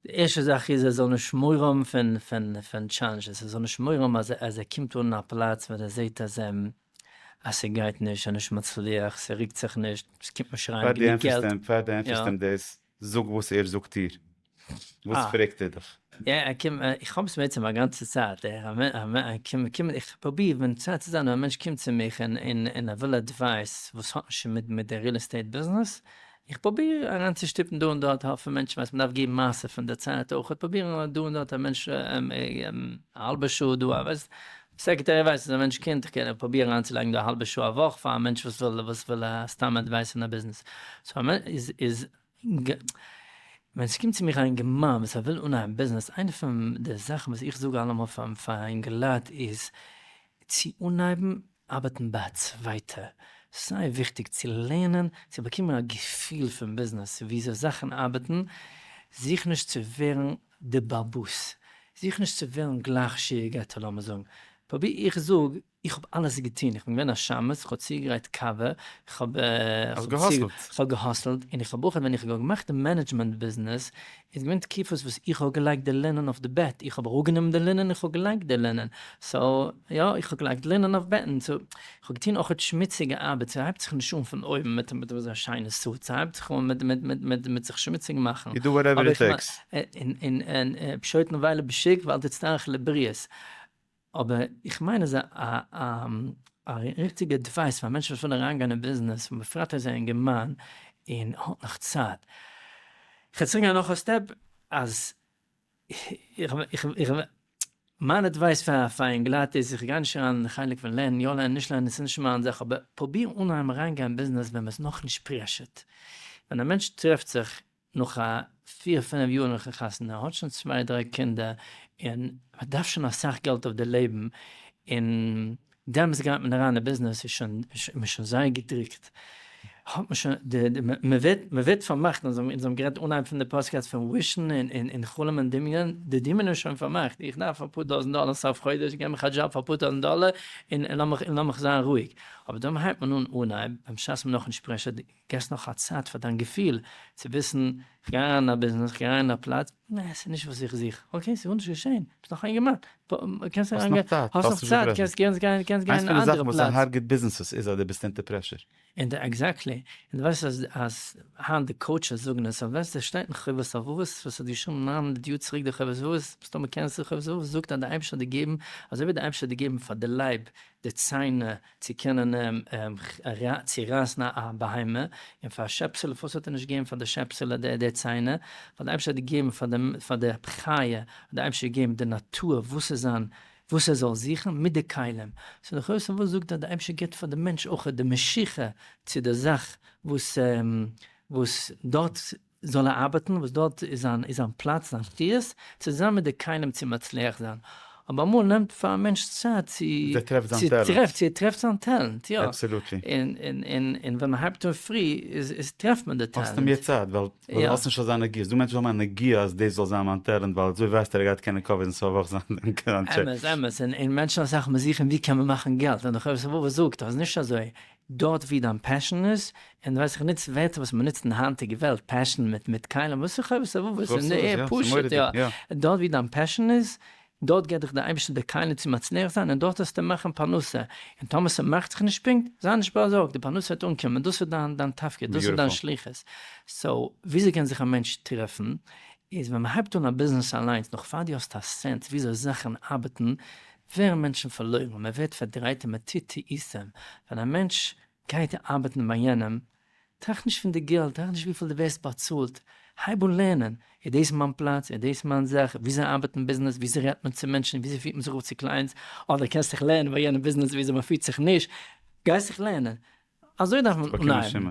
די ערשטע זאך איז ער זאל נישט מורא האבן פון טשעלענדזשעס, ער זאל נישט מורא האבן אז ער קומט אן אין א פלאץ ווען ער זעט אז ס'גייט נישט, ער איז נישט מצליח, ס'רוקט זיך נישט, ס'קומט נישט אריין גענוג געלט. פאר דו ענטפערסט אים דאס, זאג וואס ער זאגט דיר. וואס פרעגט ער דיך? יא, ער קומט, איך האב עס בעצם א גאנצע צייט, איך פרוביר ווען צייט צו זיין, און א מענטש קומט צו מיך און ער וויל אדווייס וואס האט נישט מיט די ריעל עסטעיט ביזנעס, איך פרוביר אריינצושטופן דא און דארט האלב פון מענטשן ווייל מ'דארף געבן מעשר פון די צייט אויך, פרובירן דא און דארט א מענטש א האלבע שעה דא, א סעקרעטערי ווייס איז א מענטש קינד איך קען פראבירן אריינצולייגן דא א האלבע שעה א וואך פאר א מענטש וואס וויל וואס וויל סתם עדווייס אין א ביזנעס סאו א איז איז ווען ס'קומט צו מיך א אינגערמאן וואס ער וויל אנהייבן ביזנעס איינע פון די זאכן וואס איך זאג אלעמאל פאר פאר אינגעלייט איז צו אנהייבן ארבעטן ביי א צווייטער סיי וויכטיג צו לערנען צו באקומען א געפיל פון ביזנעס וויאזוי זאכן ארבעטן זוך נישט צו ווערן די באבוס, זיך נישט צו וועלן גלייך שיעור געטאן, לאמיר זאגן, פרוביר איך זאג, איך האב אלעס געטון, איך בין געווען א שמש, איך האב צוגעגרייט קאווע, איך האב געהאסלט, און איך האב אויך ווען איך האב געמאכט די מענעדזשמענט ביזנעס, איז געווען תקופות וואס איך האב געלייגט די לינען אויף די בעט, איך האב אראפגענומען די לינען און איך האב געלייגט די לינען, סאו יא איך האב געלייגט לינען אויף בעטן, סאו כ'האב געטון אויך אט שמוציגע ארבעט, ס'הייבט זיך נישט אן פון אויבן מיט מיט אזא שיינע סוט, ס'הייבט זיך אן מיט מיט מיט מיט מיט זיך שמוציג מאכן, יו דו וואטעווער איט טעיקס. און און און פשוט נבהלה בשיק ואל תצטרך לבריות, אבער איך מיין אז א א א א ריכטיגע עדווייס פאר א מענטש וואס וויל אריינגיין אין ביזנעס און בפרט אזא אינגערמאן און האט נאך צייט, כ'וועל צוריק גיין נאך א סטעפ אז איך מיין עדווייס פאר פאר אינגלייט איז איך גיי נישט אריין אין די חלק פון לערנען יא לערנען נישט לערנען ס'איז נישט מיין זאך אבער פרוביר אנהייבן אריינגיין אין ביזנעס ווען מ'איז נאכנישט פרעשור'ד ווען א מענטש טרעפט זיך נאך א פיר פינעף יאר נאכן חתונה האט שוין צוויי דריי קינדער און מ'דארף שוין אסאך געלט אויף די לעבן און דעמאלס גייט מען אריין אין ביזנעס איז שוין מ'איז שוין זייער געדרוקט האט מען שוין די די מ'ווערט מ'ווערט פארמאכט אונז האבן אונז האבן גערעדט אנהייב פון די פאסקעסט פון ווישן און און און חלום און דמיון די דמיון איז שוין פארמאכט איך דארף אפאר טויזנט דאלער סוף חודש גיב מיך א דזשאב פאר אפאר טויזנט דאלער און און לאמיך און לאמיך זיין רואיג אבער דאן הייבט מען אן אנהייב במשה'ס נאכנישט פרעשער די געסט נאך א צייט פאר דיין געפיל צו וויסן, כ'גיי אריין אין א ביזנעס, כ'גיי אריין אין א פלאץ, נע, ס'איז נישט וואס איך זוך, אקעי, ס'איז גארנישט געשען, ביסט נאך אינגערמאן, קענסט אריין גיין, האסט נאך צייט, קענסט קענסט גיין אין אן אנדערע פלאץ. איינס פון די זאכן וואס ס'הארגעט ביזנעסעס איז אז דו ביסט אונטער פרעשור. און די עקזעקטלי, און די ווייסט אז אז היינט די קאוטשעס זאגן עס, אז ווען ס'שטייט אין חובת הלבבות, וואס האט געשריבן נײַן הונדערט יאר צוריק די חובת הלבבות, מסתמא קענסטו חובת הלבבות, זאגט אז די אייבערשטער האט דיר געבן, אזוי ווי די אייבערשטער האט דיר געבן פאר די לייב, די ציינער, צו קענען אים צו רייסן א בהמה, און פאר א שעפסעלע, פארוואס האט ער נישט געגעבן פאר די שעפסעלע די די ציינער, ווייל די אייבערשטער האט געגעבן פאר די פאר די חיה, האט די אייבערשטער געגעבן די נאטור וואס צו זיין, וואס ער זאל זוכן, מיט די כלים, סאו דאך אויס פון וואס זאגט אז די אייבערשטער געבט פאר די מענטש אויך די משיכה צו די זאך וואס וואס דארט זאל ער ארבעטן וואס דארט איז זיין פלאץ זיין שטות, צוזאמען מיט די כלים צו מצליח זיין, אבער אמאל נעמט פאר א מענטש צייט צו ער טרעפט זיין טעלענט, צו ער טרעפט זיין טעלענט, יא, אבסעלוטלי, און ווען מען הייבט אן פרי איז טרעפט מען די טעלענט, האסטו מער צייט ווייל די האסט נישט אזא נגיעה, ס'דא מענטשן וואס האבן א נגיעה אז דאס זאל זיין מיין טעלענט ווייל אזוי ווייסט ער ער גייט קענען קאווערן סוף וואך זיין קראנטשעק. אמת אמת, און מענטשן אסאך מאל זוכן ווי קען מען מאכן געלט, ווען די חובת הלבבות זאגט אז נישט אזוי, דארט ווי דיין פעשען איז, און ווייס איך נוץ ווערטער וואס מען נוצט אין היינטיגע וועלט, פעשען מיט מיט כלים וואס איך אויב ס'וואס וואס אין די עיר פשוט יא, דארט ווי דיין פעשען איז, דארט געט דיך די אייבערשטער די כלים צו מצליח זיין און דארט העסטו מאכען פרנסה, און טאמער ס'מאכט זיך נישט פונקט, זיי נישט באזארגט די פרנסה וועט אנקומען, דאס איז דיין דיין תפקיד, דאס איז דיין שליחות. סאו וויאזוי קען זיך א מענטש טרעפען, איז ווען מען הייבט אן א ביזנעס אליינס נאך פאר די האסט א סענס וויאזוי זאכען ארבעטען, ווערן מענטשן פארלוירן, מען ווערט פארדרייט און מען טוט טעותים, ווען א מענטש גייט ארבעטן ביי יענעם, טראכט נישט פון די געלט, טראכט נישט וויפיל דו ווערסט באצאלט, הייב אן לערנען, איז דאס מיין פלאץ, איז דאס מיין זאך, וויאזוי ארבעט אין ביזנעס, וויאזוי רעדט מען צו מענטשן, וויאזוי פירט מען זיך אויף צו קלייענטס, אדער קענסט זיך לערנען ביי יענעם ביזנעס וויאזוי מען פירט זיך נישט, גיי זיך לערנען, אזוי דארף מען אנהייבן.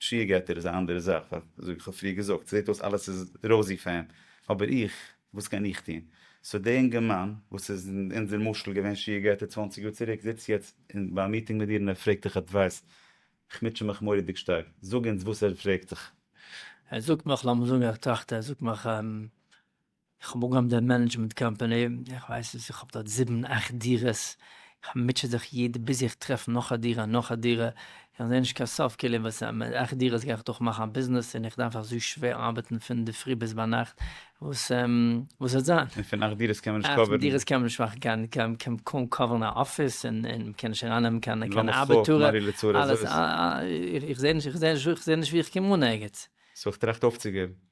שיעור געטער איז א אנדערע זאך, ווייל זאג איך האב פריער געזאגט, ס'זעט אויס אלעס איז ראוזי פאר אים, אבער איך, וואס קען איך טון? סאו דער אינגערמאן וואס איז אין אונזער משל געווען שיעור געטער צוואַנציק יאר צוריק, זיצט יעצט ביי א מיטינג מיט דיר און ער פרעגט דיך עדווייס, איך מוטשע מיך מורא'דיג שטארק, זאג אונז וואס ער פרעגט דיך. ער זאגט מיך, לאמיר זאגן ער טראכט ער זאגט מיך, איך האב אנגעהויבן די מענעדזשמענט קאמפאני, איך ווייס וואס איך האב דארט זיבן אכט דירות, איך מוטשע זיך יעדע ביז איך טרעף נאך א דירה נאך א דירה, איך זעה נישט קיין סוף כאילו וואס מיט אכט דירות גיי איך דאך מאכן א ביזנעס און איך דארף אזוי שווער ארבעטן פון די פרי ביז ביינאכט, וואס וואס וועט זיין? און פון אכט דירות קען מען נישט קאווערן? אכט דירות קען מען נישט מאכן קיין קיין מ'קען קוים קאווערן א אפיס און און מ'קען נישט ארייננעמען קיין קיין ארבעטאר, אלעס איך זעה נישט איך זעה נישט איך זעה נישט ווי איך קום אן ערגעץ. סאו איך טראכט אויפצוגעבן.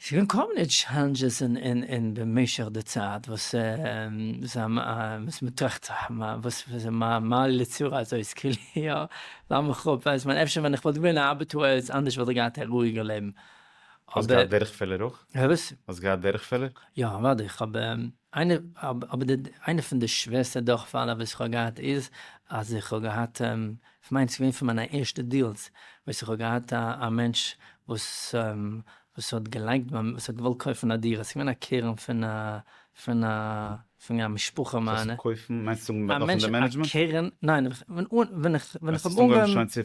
ס'געווען כל מיני טשעלענדזשעס אין במשך די צייט וואס וואס מ'טראכט זיך וואס מה לי לצרה הזאת כאילו יא לאמיך אפ ווייסט מען אפשר ווען איך וואלט געווען א ארבעטאר איז אנדערש וואלט איך געהאט א רואיגע לעבן. האסט געהאט דורכפעלער אויך? וואס? האסט געהאט דורכפעלער? יא אוודאי, כ'האב איינע אבער די איינע פון די שווערסטע דורכפאלן אויף וואס איך האב געהאט איז אז איך האב געהאט כ'מיין ס'איז געווען פון מיינע ערשטע דיעלס וואס איך האב געהאט א מענטש וואס וואס האט געלייקט ביי וואס האט געוואלט קויפן א דירה ס'איז געווען א קרן פון א פון א פון א משפחה מיינע. וואס קויפן מיינסט זאגן א מענטש א קרן ניין ווען איך ווען איך האב אנגעהויבן צו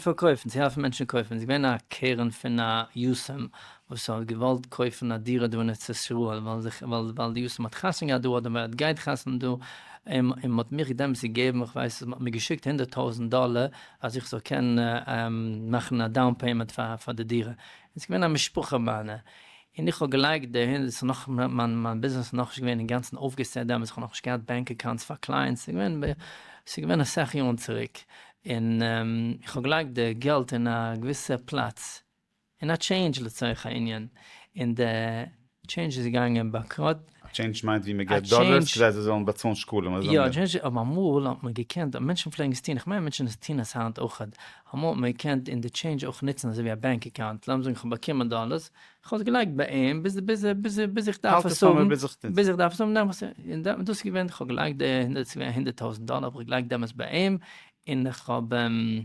פארקויפן צו העלפן מענטשן קויפן ס'איז געווען א קרן פון א יסעם וואס האט געוואלט קויפן א דירה דא אין ארץ ישראל ווייל די יאסעלע האט חתונה געהאט דא אדער ווער עס גייט חתונה דא, און מען האט מיך געדענט צו געבן איך ווייס נישט מען האט מיר געשיקט הונדערט טויזענט דאלער אז איך זאל קענען מאכן א דאון פעימענט פאר די דירה, און עס איז געווען א משפחה מיינע, און איך האב געלייגט דערהין, עס איז נאך מיין ביזנעס איז נאכנישט געווען אינגאנצן אויפגעסעט דעמאלטס איך האב נאכנישט געהאט בענק אקאונטס פאר קלייענטס, עס איז געווען אסאך יארן צוריק, און איך האב געלייגט די געלט אין א געוויסע פלאץ, און א טשעינדזש לצורך הענין, און די טשעינדזש איז געגאנגען באנקראט. א טשעינדזש מיינט ווי מען געט דאלערס כדי זיי זאלן באצאלן שקלים, אזוי יא, מינען. אבער אמאל האט מען געקענט, מענטשן פלעגן עס טון, כ'מיין מענטשן טון עס היינט אויכעט, אמאל האט מען געקענט אין די טשעינדזש אויך נוצן אזוי ווי א באנק אקאונט, לאמיר זאגן כ'האב באקומען דאלערס, כ'האב עס געלייגט ביי אים ביז ביז איך דארף עס האבן, ביז איך דארף עס האבן נעם איך עס, און דאס איז געווען, כ'האב געלייגט די הונדערט, ס'איז געווען הונדערט טויזנט דאלער האב איך געלייגט דעמאלטס ביי אים, און איך האב אים.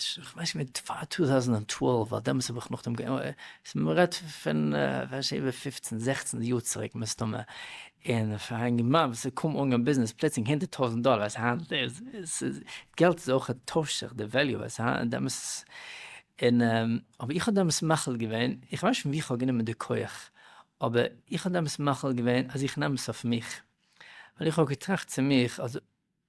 כ'ווייס נישט מיט פאר טו טאוזענט ענד טוועלוו ווייל דעמאלטס האב איך נאכדעם געענ. מ'רעדט פון כ'ווייס נישט איבער פופצן זעכצן יאר צוריק מסתמא, און פאר א אינגערמאן וואס איז קוים אנגעהויבן ביזנעס פלוצלינג הונדערט טויזענט דאלער אז היינט איז ס'איז געלט איז אויך טוישט זיך די וועליו אז היינט דעמאלטס און אבער איך האב דעמאלטס מחליט געווען איך ווייס נישט פון ווי כ'האב גענומען די כח אבער איך האב דעמאלטס מחליט געווען אז איך נעם עס אויף מיך ווייל איך האב געטראכט צו מיך אז.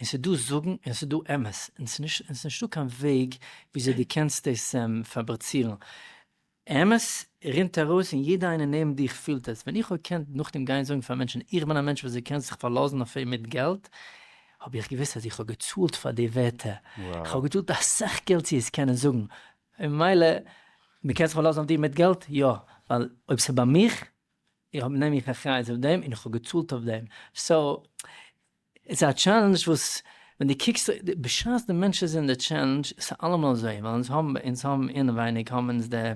און ס'איז דא זאגן און ס'איז דא אמת, און ס'איז נישטא קיין וועג וויאזוי דו קענסט דאס פאברעצירן. אמת רינט ארויס און יעדער איינער נעבן דיך פילט עס. ווען איך האב געקענט נאכדעם גיין זאגן פאר מענטשן איך בין א מענטש וואס דו קענסט זיך פארלאזן אויף אים מיט געלט, האב איך געוואוסט אז איך האב געצאלט פאר די ווערטער. איך האב געצאלט אסאך געלט צו עס קענען זאגן. ממילא, מען קען זיך פארלאזן אויף דיר מיט געלט? יא. ווייל אויב ס'איז ביי מיך, איך נעם מיך אחריות אויף דעם און איך האב געצאלט אויף דעם. סאו, ס'איז א טשעלענדזש וואס ווען דו קוקסט בשעת די מענטש איז אין די טשעלענדזש, ס'איז אלעמאל אזוי ווייל אונז האבן אונז האבן אינעווייניג האבן אונז די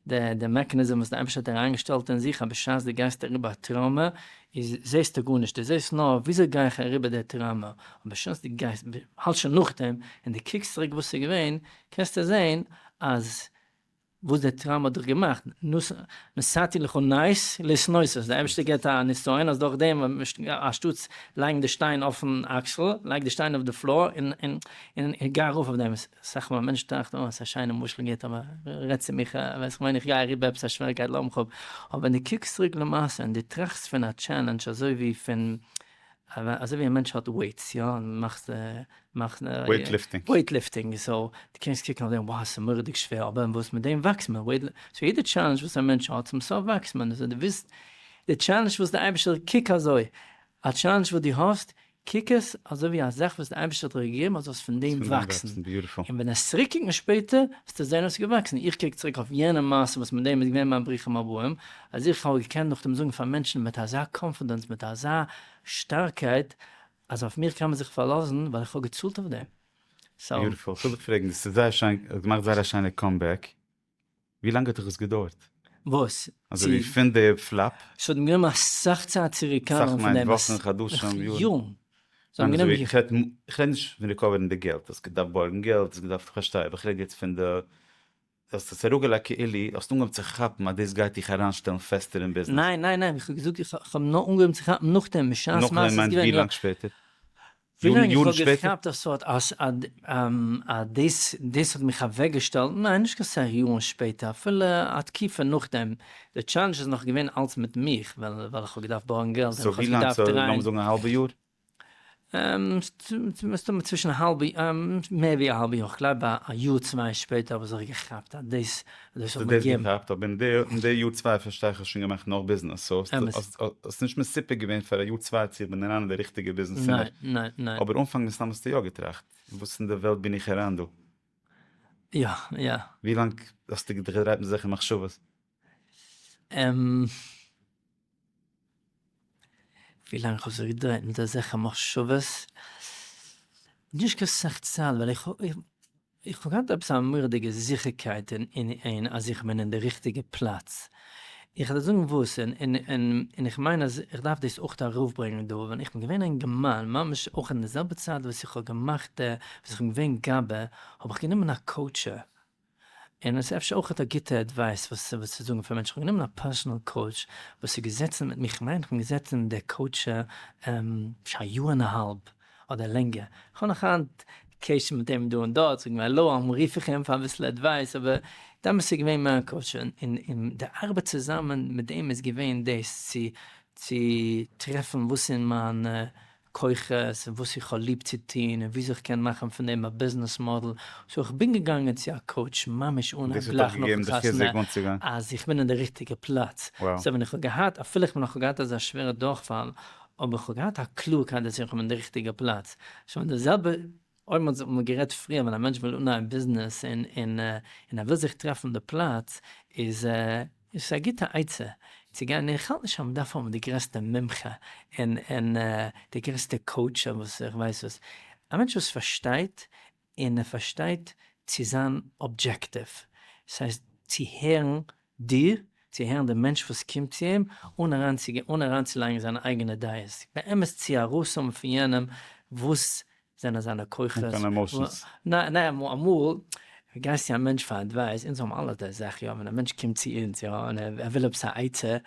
די די מעקעניזם וואס די אייבערשטער האט אריינגעשטעלט אין זיך אז בשעת דו גייסט אריבער א טראומע איז זעסטו גארנישט דו זעסט נאר וויאזוי גיי איך אריבער די טראומע און בשעת דו גייסט האלט שוין נאכדעם און דו קוקסט צוריק וואס איז געווען קענסטו זען אז וואס דער טראמפ האט דאך געמאכט, נשאתי לך נס לשנות, אז דער אייבערשטער גיבט א נסיון אז דורך דעם אנשטאטס לייגן די שטיין אויפן אקסל, לייג די שטיין אויף די פלאר און גיי ארויף אויף דעם, סאך מאל מענטשן טראכטן אוי ס'איז א שיינע משל גוט אבער רעדט צו מיך ווען כ'מיין איך גיי אריבער עפעס א שוועריקייט לאמיר כ'האב, אבער ווען דו קוקסט צוריק למעשה און דו טראכסט פון א טשעלענדזש אזוי ווי פון אזוי ווי א מענטש האט וועיטס יא און מאכט מאכט וועיט ליפטינג וועיט ליפטינג סאו די קענסט קוקן אויף דעם וואו ס'איז מורא'דיג שווער אבער וואס מיט דעם וואקסט מען וועיט סאו יעדע טשעלענדזש וואס א מענטש האט צום סוף וואקסט מען סאו די וויסט די טשעלענדזש וואס די אייבישטער קוק אזוי א טשעלענדזש וואס די האסט קוק עס אזוי ווי א זאך וואס די אייבישטער האט דיר געגעבן אז זאלסט פון דעם וואקסן און ווען עסט צוריק קוקן שפעטער וועסטו זען אז ס'איז געוואקסן איך קוק צוריק אויף יענע מעשה וואס מיט דעם איז געווען מיין ברוכים הבאים אז איך וואלט געקענט נאכדעם זאגן פאר מענטשן מיט אזא קאנפידענס, מיט אזא שטארקייט, אז אויף מיר קען מען זיך פארלאזן, ווייל איך האב געצאלט אויף דעם. סאו. ביוטיפול. כ'וויל דיך פרעגן, דאס איז זייער שיין, האט געמאכט זייער א שיינע קאמבעק, ווי לאנג האט דיך עס געדויערט? וואס? אזוי ווי פון די פלאפ? ס'האט מיר גענומען אסאך צייט צו ריקאווערן פון דעם. אסאך מיינט וואכן, חדשים, יארן? יארן. ס'האט מיר גענומען יארן. איך רעד נישט פון ריקאווערן די געלט, האסט געדארפט בארגן געלט, האסט געדארפט, כ'פארשטיי, אבער איך רעד יעצט פון די. די האסט עס אראפגעלייגט כאילו האסט אנגעהויבן צו כאפן אז דאס גייט דיך אריינשטעלן פעסטער אין ביזנעס. ניין ניין ניין, איך האב געזאגט איך האב נאר אנגעהויבן צו כאפן נאכדעם, בשעת מעשה איז געווען, יא. ווילאנג איך האב געכאפט אז ס'האט אז דאס דאס האט מיך אוועקגעשטעלט, ניין נישט קיין סאך יארן שפעטער, אפילו א תקופה נאכדעם, די טשאלענדזש איז נאך געווען אלץ מיט מיך, ווייל איך האב געדארפט בארגן געלט און איך האב געדארפט דרייען. סאו ווילאנג, לאמיר זאגן א האלבע יאר? מסתמא צווישן א האלבע, מער ווי א האלבע יאר, איך גלייב א יאר צוויי שפעטער האב איך זיך געכאפט אז דאס האט מיר געגעבן. האסט דאס געכאפט, אבער אין די יאר צוויי פארשטיי איך האסט שוין געמאכט נאך ביזנעס, סאו האסט נישט מסופק געווען פאר א יאר צוויי צו איך בין אריין אין די ריכטיגע ביזנעס צימער. ניין, ניין, ניין. אבער אנפאנג מסתמא האסטו יא געטראכט, וואס אין די וועלט בין איך אריין דא? יא, יא. ווי לאנג האסטו געדרייט מיט אזעלכע מחשבות? ווי לאנג איך האב זיך געדרייט מיט אזעלכע מחשבות, נישט קיין סאך צייט, ווייל איך האב געהאט עפעס א מורא'דיגע זיכערקייט אין אז איך בין אין די ריכטיגע פלאץ, איך וועל זאגן וואס, און איך מיין אז איך דארף דאס אויך ארויף ברענגען דא, ווען איך בין געווען אין געמיין, ממש אויך אין די זעלבע צייט וואס איך האב געמאכט, וואס איך בין געווען גאבע, האב איך גענומען א קאוטשער, און עס איז אפשר אויך א גוטע עדווייס וואס צו זאגן פאר מענטשן, כ'האב גענומען א פערסאנעל קאוטש וואס איז געזעצן מיט מיך, כ'מיין כ'בין געזעצן אין די קאוטש אפשר א יאר און א האלב אדער לענגער, כ'האב נאך היינט קשר מיט אים דא און דארט, זאג מיר האלא, אמאל רוף איך אים פאר אביסל עדווייס, אבער דאמאלס איז געווען מער א קאוטש, און די ארבעט צוזאמען מיט אים איז געווען דאס צו טרעפן וואס אין מיין כוחות און וואס איך האב ליב צו טון און וויאזוי איך קען מאכן פון דעם א ביזנעס מאדעל, סאו איך בין געגאנגען צו א קאוטש ממש אן הייב גלייך נאכן חתונה אז איך בין אין די ריכטיגע פלאץ, סאו ווען איך האב געהאט אפילו איך בין נאך געהאט אזא שווערע דורכפאל אבער איך האב געהאט א קלארקייט אז איך בין אין די ריכטיגע פלאץ, שוין די זעלבע אויב מען האט גערעדט פריער ווען א מענטש וויל אנהייבן ביזנעס און ער וויל זיך טרעפן די פלאץ איז עס א גוטע עצה צו גיין, איך האלט נישט אז מען דארף האבן די גרעסטע מומחה און די גרעסטע קאוטש און וואס איך ווייס וואס, א מענטש וואס פארשטייט און ער פארשטייט צו זיין אבדזשעקטיוו, ס'הייסט צו הערן דיר, צו הערן דעם מענטש וואס קומט צו אים, אן אריינצוגיין, אן אריינצולייגן זיינע אייגענע דעות, באמת צו ארויסהאבן פון יענעם וואס זענען זיינע כוחות, אן קיין עמאושענס. ניין, אמאל גייסט צו א מענטש פאר אדווייס, אונז האבן אלע די זאך יא, ווען א מענטש קומט צו אונז יא, און ער וויל עפעס א עצה,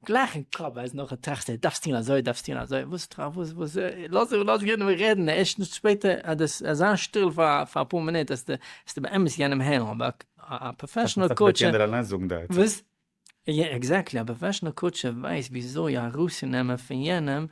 גלייך אין קאפ ווייל נאכדעם טראכסטו ער דארפסט טון אזוי דארפסט טון אזוי וואס טראכט וואס וואס לאז אים לאז יענעם רעדן ערשטנס שפעטער אז דאס אז זיין שטיל פאר פאר אפאר מינוט העסטו העסטו באמת יענעם הערן אבער א פראפעשענעל קאוטש וואס יא עקזעקטלי א פראפעשענעל קאוטש ווייסט וויאזוי ארויסצונעמען פון יענעם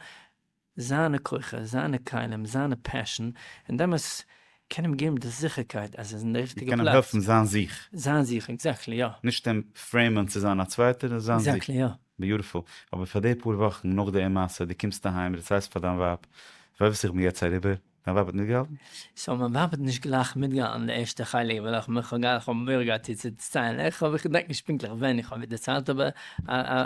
זיינע כוחות, זיינע כלים, זיינע פעשען, און דעמאלטס קען אים געבן די זיכערקייט אז ער איז אין די ריכטיגע פלאץ. און קען אים העלפן זיין זיך. זיין זיך, עקזעקטלי, יא. נישט אים פרעימען צו זיין א צווייטער, נאר זיין זיך. עקזעקטלי, יא. ביוטיפול. אבער פאר די פאר וואכן נאך די אומעשה, דו קומסט אהיים, דו דערציילסט פאר דיין ווייב, ווייסט וואס איך בין יעצט אריבער? מיין ווייב האט מיטגעהאלטן? סאו מיין ווייב האט נישט גלייך מיטגעהאלטן די ערשטע חלק וויל איך מיך גאר איך האב מורא געהאט איר צו דערציילן איך האב איך געדענק נישט פונקטליך ווען איך האב איר דערציילט אבער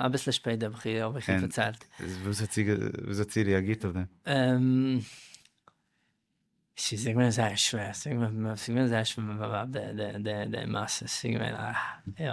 אביסל שפעט האב איך איר דערציילט. און וואס האט זי וויאזוי האט זי רעאגירט אויף דעם? ס'איז איר געווען זייער שווער ס'איז געווען זייער שווער מיט מיין ווייב די מעשה ס'איז געווען א יא.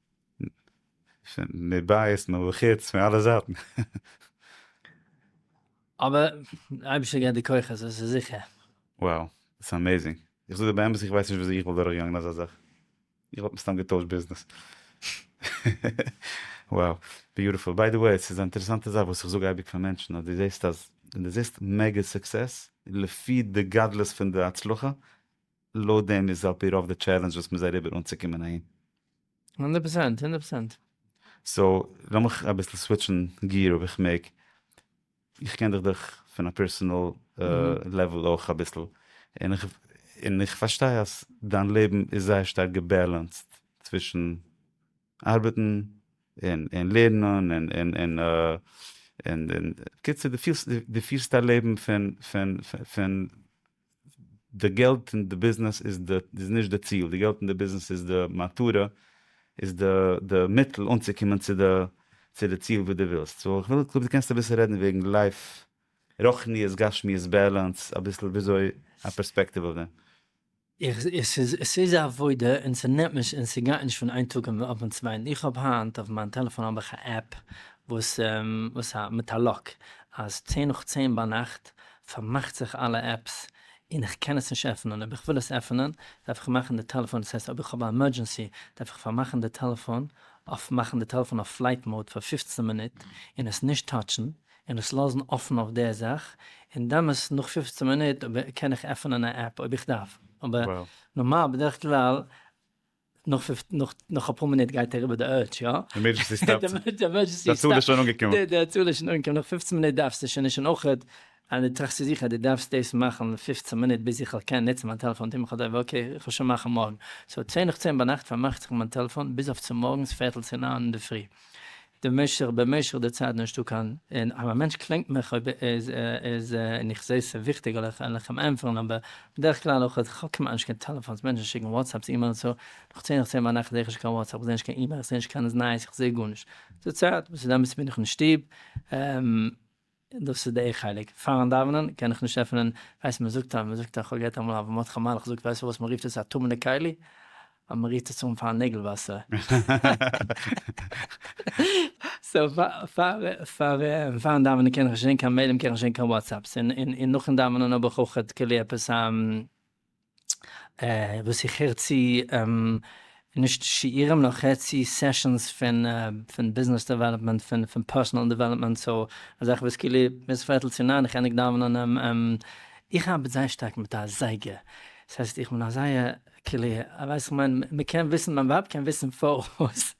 מבית מבחוץ פון אלע זייטן. אבער אייבערשטער געט די כוחות עס איז זיכער. Wow דאס איז עמעזינג. איך זאג דיר באמת איך ווייס נישט וויאזוי איך וואלט דורך געגאנגען אזא זאך. איך וואלט מסתם געטוישט ביזנעס. Wow ביוטיפול. ביי די וועי ס'איז א אינטערעסאנטע זאך וואס איך זאג אייביג פאר מענטשן אז דו זעסט אז ווען דו זעסט מעגא סוקסעס לפי די גדלות פון די הצלחה לויט דעם איז על פי רוב די טשעלענדזש וואס מ'איז אריבער אנצוקומען אהין. הונדערט פראצענט, הונדערט פראצענט. סאו, לאמיך אביסל סוויטשן געיר אויב איך מעג. איך קען דיך דורך פון א פערסאנעל לעוועל אויך אביסל, און איך און איך פארשטיי אז דיין לעבן איז זייער שטארק געבעלענסד צווישן ארבעטן און און לערנען און און און און און בקיצור דו פירסט דו פירסט א לעבן פון פון פון. די געלט אין די ביזנעס איז די איז נישט די ציל, די געלט אין די ביזנעס איז די מטרה, איז די די מיטל אנצוקומען צו די צו די ציל וואס די ווילסט, סאו איך וויל קלאר די קענסט אביסל רעדן וועגן לייף רוחניות גשמיות בעלענס אביסל וויאזוי א פערספעקטיוו אויף דעם. איך עס איז עס איז א עבודה און ס'נעמט נישט און ס'גייט נישט פון איין טאג און אויפן צווייטן איך האב היינט אויף מיין טעלעפאן האב איך א עפפ וואס וואס א מיט א לאק אז צען נאך צען ביינאכט פארמאכט זיך אלע עפפס און איך קען עס נישט עפענען, אויב איך וויל עס עפענען דארף איך מאכן די טעלעפאן, דאס הייסט אויב איך האב א עמערדזשענסי דארף איך פארמאכן די טעלעפאן אויף מאכן די טעלעפאן אויף פלייט מאוד פאר פֿופֿצן מינוט און עס נישט טאטשן און עס לאזן אפן אויף די זאך און דאמאס נאך פֿופֿצן מינוט קען איך עפענען א עפפ אויב איך דארף אבער נארמאל בדרך כלל. נאך פֿופֿצן נאך נאך אפאר מינוט גייט ער איבער די ערדזש יא? עמערדזשענסי סטאפט. די עמערדזשענסי סטאפט. די צאל איז שוין אנגעקומען. די די צאל איז שוין אנגעקומען נאך פֿופֿצן מינוט דארפסטו שוין נישט און אויכעט אז די טראכסט צו זיך אז די דארפסט דאס מאכן פֿופֿצן מינוט ביז איך וועל קענען נוצן מיין טעלעפאן טוה מיך א טובה אקעי איך וועל שוין מאכן מארגן סאו צען נאך צען ביינאכט פארמאכט זיך מיין טעלעפאן ביז אויף צומארגנס פערטל צו נײַן אינדערפרי די משך במשך די צייט נישטא קיין און אז א מענטש קלענגט מיך אויב איז איז און איך זעה ס'איז וויכטיג על איך על איך אים ענטפערן אבער בדרך כלל אויך אז כ'האב כמעט נישט קיין טעלעפאנס מענטשן שיקן וואטסעפס אימעילס סאו נאך צען איך צען ביינאכט זעה איך נישט קיין וואטסעפ כ'זעה נישט קיין אימעיל כ'זעה נישט קיינעם'ס נייעס כ'זעה גארנישט די צייט וואס איז אמת בין איך אין שטוב. דאס איז דעי חלק. פארן דאווענען קען איך נישט עפענען, כ'ווייס מ'זאגט א מ'זאגט א כ'האב געהערט אמאל א מטכ מלכ זאגט ווייסט וואס מ'רופט עס א טמא'נע כלי? אז מ'רירט עס אן פארן נעגל וואסער. סאו פארן דאווענען קען איך נישט זעהן קיין מעילים קען איך נישט זעהן קיין וואטסעפס און נאכן דאווענען האב איך אויכעט כלי עפעס א וואס איך הער צו נישט שיעורים נאר איך הער צו סעשאנס פון ביזנעס דעוועלאפמענט פון פערסאנעל דעוועלאפמענט סאו אזאך וואס כאילו ביז פערטל צו ניין איך ענדיג דאווענען איך ארבעט זייער שטארק מיט א זייגער ס'הייסט איך בין א זייער כאילו ווייסט איך מיין מ'קען וויסן מיין ווייב קען וויסן פאראויס.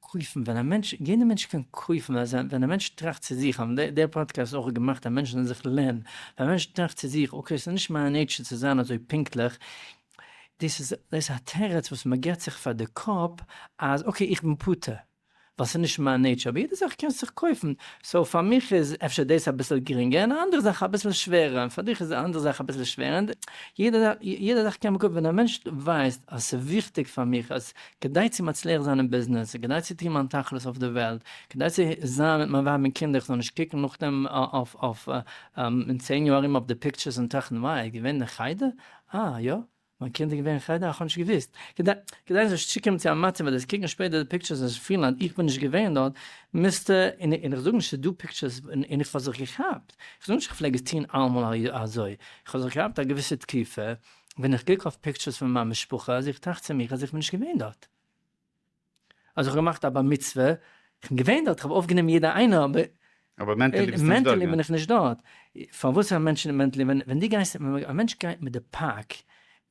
קויפן ווען א מענטש, יעדע מענטש קען קויפן ווען זיין, ווען א מענטש טראכט צו זיך, האבן די די פאדקעסט איז אויך געמאכט אז מענטשן זאלן זיך לערנען, ווען א מענטש טראכט צו זיך אקעי עס איז נישט מיין נעיטשער צו זיין אזוי פונקטליך, דאס איז דאס א תירוץ וואס מען געבט זיך פאר די קאפ אז אקעי איך בין פטור ווייל ס'איז נישט מיין נעיטשער, אבער יעדע זאך קענסט זיך קויפן, סאו פאר מיך איז אפשר דאס אביסל גרינגער און א אנדערע זאך אביסל שווערער, און פאר דיך איז די אנדערע זאך אביסל שווערער, יעדע זאך קען מען קויפן, ווען א מענטש ווייסט אז ס'איז וויכטיג פאר מיך אז כדי צו מצליח זיין אין ביזנעס, כדי צו טון מיין תכלית אויף די וועלט, כדי צו זיין מיט מיין ווייב און קינדער איך זאל נישט קוקן נאכדעם אויף אויף אין צען יאר ארום אויף די פיקטשערס און טראכטן וויי ער איז געווען אין חדר? אה יא? מיין קינד איז געווען אין חדר? אה כ'האב נישט געוואוסט. כדי כדי איך זאל נישט צוקומען צו א מצב אז זיי קוקן שפעטער די פיקטשערס און זיך פילן אז איך בין נישט געווען דארט, מוזטו, און און איך זאג נישט ס'איז דא פיקטשערס און איך האב זיך געכאפט, איך זאג נישט איך פלעג עס טון אלעמאל אזוי, איך האב זיך געכאפט א געוויסע תקופה, ווען איך קוק אויף פיקטשערס פון מיין משפחה אז איך טראכט צו מיך אז איך בין נישט געווען דארט, אז איך האב געמאכט א בר מצוה, איך בין געווען דארט, איך האב אויפגענומען יעדע איינער, אבער אבער מענטעלי ביסטו נישט דארט מענטעלי געווען. בין איך נישט דארט, פארוואס זענען מענטשן נישט מענטעלי, ווען ווען דו גייסט, ווען א מענטש גייט מיט די פאק,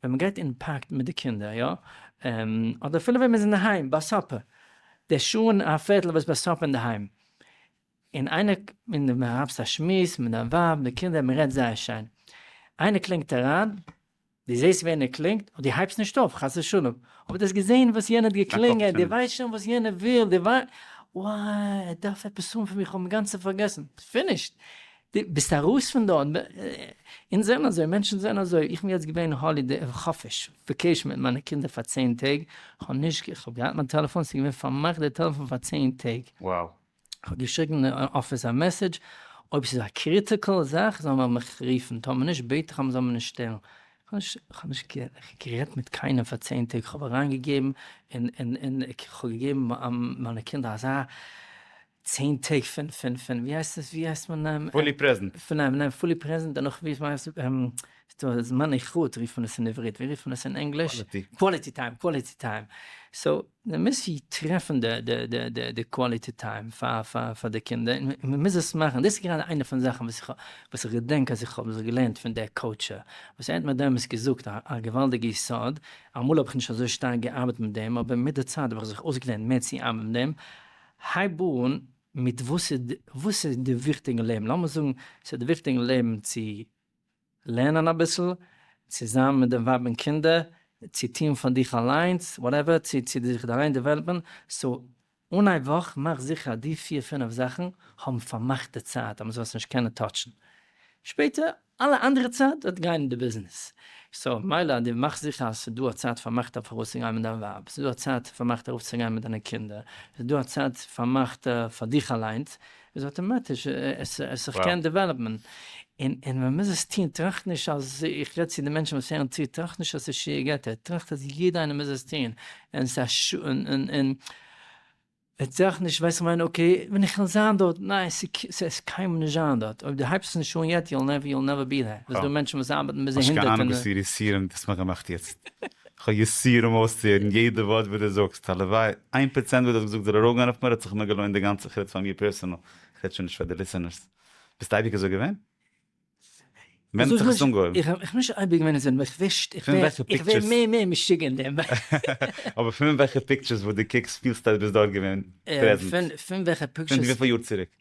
ווען מען גייט אין פארק מיט די קינדער יא, אדער אפילו ווען מען איז אינדערהיים ביי סאפער, דער שעה און א פערטל וואס ביי סאפער אינדערהיים, און איינער און די מהאבסט א שמועס מיט דיין ווייב די קינדער מען רעדט זייער שיין איינער קלינגט אריין די זעסט ווער ער קלינגט און די הייבסט נישט אויף חס ושלום אבער די האסט געזען וואס יענער האט געקלינגען די ווייסט שוין וואס יענער וויל די ווייסט וואו ער דארף עפעס האבן פון מיר כ'האב אינגאנצען פארגעסן פינישט די ביסט ארויס פון דארט ב אונז זענען אזוי מענטשן זענען אזוי איך בין יעצט געווען האלידעי חופש וועקעישן מיט מיינע קינדער פאר צען טעג כ'האב נישט כ'האב געהאט מיין טעלעפאן ס'איז געווען פארמאכט די טעלעפאן פאר צען טעג. Wow. כ'האב געשריגן אין אפיס א מעסעדזש, אויב ס'איז א קריטיקעל זאך זאל מען מיך רופן, טאמער נישט בעט איך אז מ'זאל מיר נישט שטערן. כ'האב נישט גערעדט מיט קיינעם פאר צען טעג, כ'האב אריין געגעבן און כ'האב געגעבן מיינע קינדער אזא צען טעג פון פון פון ווי הייסט עס ווי הייסט מען? פולי פרעזענט. פון פון פולי פרעזענט דערנאך ווי הייסט עס? ס'דא זמני חוט רופט מען עס אין עברית, ווי רופט מען עס אין ענגליש? קוואליטי טיים. קוואליטי טיים. סאו מען מוז ווי טרעפן די די די די די קוואליטי טיים פאר פאר פאר די קינדער, און מען מוז עס מאכן, דאס איז גראדע איינע פון די זאכן וואס איך וואס איך געדענק אז איך האב זיך געלערנט פון דער קאוטשער, וואס ער האט מיר דעמאלס געזאגט א א געוואלדיגע יסוד, אמאל האב איך נישט אזוי שטארק געארבעט מיט דעם, אבער מיט די צייט האב איך זיך אויסגעלערנט מער צו ארבעטן מיט דעם, הייב אן מיט וואס איז וואס איז די וויכטיג אין לעבן, לאמיר זאגן ס'איז די וויכטיג אין לעבן צו לערנען אביסל, צו זיין מיט די ווייב און קינדער, צו טון פאר דיך אליינס, וואטעווער, צו צו דיך אליין דעוועלאפען, סאו אן א וואך מאך זיכער אז די פיר פינעף זאכן האבן פארמאכטע צייט אז מען זאל עס נישט קענען טאטשן, שפעטער אלע אנדערע צייט וועט גיין אין די ביזנעס, סאו מילא אז די מאכסט זיכער אז ס'איז דא א צייט פארמאכטע פאר ארויסצוגיין מיט דיין ווייב, ס'איז דא א צייט פארמאכטע ארויפצוגיין מיט דיינע קינדער, ס'איז דא א צייט פארמאכטע פאר דיך אליינס, איז אטאמאטיש, עס זיך קען דעוועלאפן, און און מען מוז עס טון, טראכט נישט אז, איך רעד צו די מענטשן וואס הערן צו, טראכט נישט אז עס איז שיעור געטער, טראכט אז יעדער איינער מוז עס טון, און עס איז א ש ס, און און טראכט נישט ווייסט איך מיין אקעי ווען איך וועל זיין דארט, ניין עס וועסט קיינמאל נישט זיין דארט, אויב דו הייבסט עס נישט אן יעצט יו וויל נעווער בי דער, עס איז דא מענטשן וואס ארבעטן ביז זיי הונדערט און. האסט קיין אהנונג וואס איר ריסירונג דאס מגא מאכט יעצט, כ'האב יסורים אויסצוהערן יעדע ווארט וואס דו זאגסט, הלוואי איין פראצענט וואס דו האסט געזאגט זאל ארויפגיין אויף מיר, האט זיך מיר געלוינט די גאנצע חוץ פאר מיר פערסענעל, כ'רעד שוין נישט פאר די ליסענערס. ביסט אייביג אזוי געווען? ווען האט זיך עס אנגעהויבן? איך בין נישט אייביג געווען אזוי נאר איך וויש, איך ווער מער מער משוגע אין דעם. אבער פון וועלכע פיקטשערס וואס דו קוקסט פילסטו אז דו ביסט דארט געווען פרעזענט? פון וועלכע פיקטשערס? פון וויפיל יאר צוריק?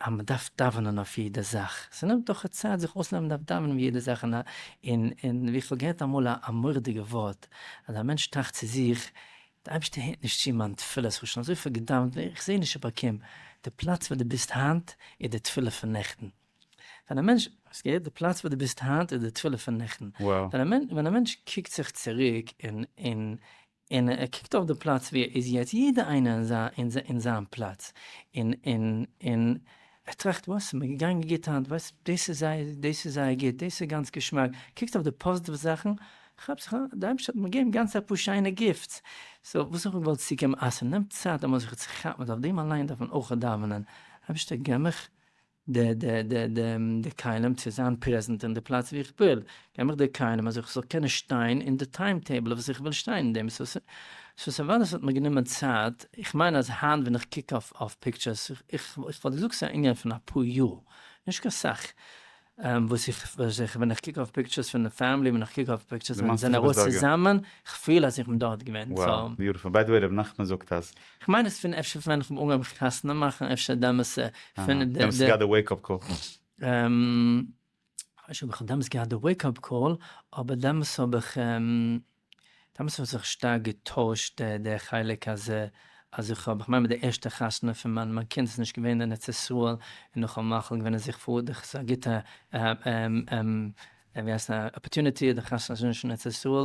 אז מען דארף דאווענען אויף יעדע זאך, ס'נעמט דאך א צייט זיך אויסלערנען מען דארף דאווענען אויף יעדע זאך, און און ווי כ'האב געהערט אמאל א מורא'דיגע ווארט, אז א מענטש טראכט צו זיך, דער אייבערשטער הערט נישט צו מיין תפילה, איך האב שוין אזויפיל געדאווענט ווער איך זע נישט איך באקום, די פלאץ וואו דו ביסט היינט איז די תפילה פון נעכטן, ווען א מענטש, האסט געהערט? די פלאץ וואו דו ביסט היינט איז די תפילה פון נעכטן, ווען א מענטש קוקט זיך צוריק און און און ער קוקט אויף די פלאץ ווי ער איז יעצט, יעדע איינער אין זיין אין זיין פלאץ, און און און ער טראכט וואס איז מיר געגאנגען גוט היינט, וואס דאס איז זייער דאס איז זייער גוט, דאס איז גאנץ געשמאק, קוקט אויף די פאזיטיוו זאכן, כאפט זיך אן, די אייבערשטער האט מיר געגעבן גאנץ אפאר שיינע גיפטס, סאו וואס האב איך געוואלט צוגעבן, אה ס'נעמט צייט אמאל זיך צו כאפן, אויף דעם אליין דארף מען אויך דאווענען, אייבערשטער געב מיך די כלים צו זיין פרעזענט אין די פלאץ ווי איך וויל, געב מיך די כלים אז איך זאל קענען שטיין אין די טיים טעיבל וואס איך וויל שטיין אין דעם, סאו ס'איז וואר אז ס'האט מיר גענומען צייט, איך מיין אז היינט ווען איך קוק אויף פיקטשערס, איך וואלט געזאגט ס'איז א ענין פון אפאר יאר, נישט קיין סאך, וואס איך ווען איך קוק אויף פיקטשערס פון די פאמילי, ווען איך קוק אויף פיקטשערס ווען מיר זענען ארויס צוזאמען, איך פיל אז איך בין דארט געווען, סאו. ביי די וועי ר' נחמן זאגט אז כ'מיין עס פון אפשר פון ווען כ'האב אנגעהויבן חתונה מאכן אפשר דעמאלס פון די. דעמאלס האסטו געהאט די וועיק אפ קאל. כ'ווייס נישט אויב כ'האב דעמאלס געהאט די וועיק אפ קאל, אבער דעמאלס האב איך, דעמאלס האט זיך שטארק געטוישט די חלק אז אז איך האב, כ'מיין מיט די ערשטע חתונה פון מיין מיין קינד איז נישט געווען אין ארץ ישראל, און נאך א מח ל געווען אז איך פאר דאך ס'איז א גוטע, ווי הייסט, אפארטוניטי, די חתונה איז נישט אין ארץ ישראל,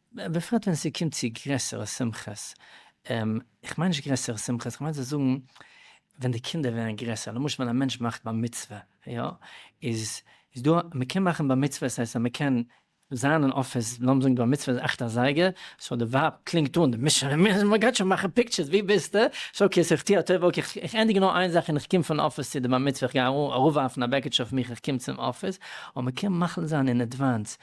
בפרט ווען ס'קומט צו גרעסערע שמחות, איך מיין נישט גרעסערע שמחות, כ'מיין צו זאגן ווען די קינדער ווערן גרעסער, למשל ווען א מענטש מאכט בר מצוה, יא, איז דא, מ'קען מאכן בר מצוה, ס'הייסט אז מ'קען זיין אין אפיס, לאמיר זאגן די בר מצוה איז אכט אזייגער, סאו די ווייב קלינגט אן, די משפחה, מ'גייט שוין מאכן פיקטשערס, ווי ביסטו? סאו אקעי, סאו איך טו א טובה, אקעי, איך ענדיג נאר איין זאך און איך קום פון אפיס צו די בר מצוה, איך גיי אראפווארפן א בעקיטשע אויף מיך, איך קום צום אפיס, און מ'קען מחליט זיין אין עדוואנס,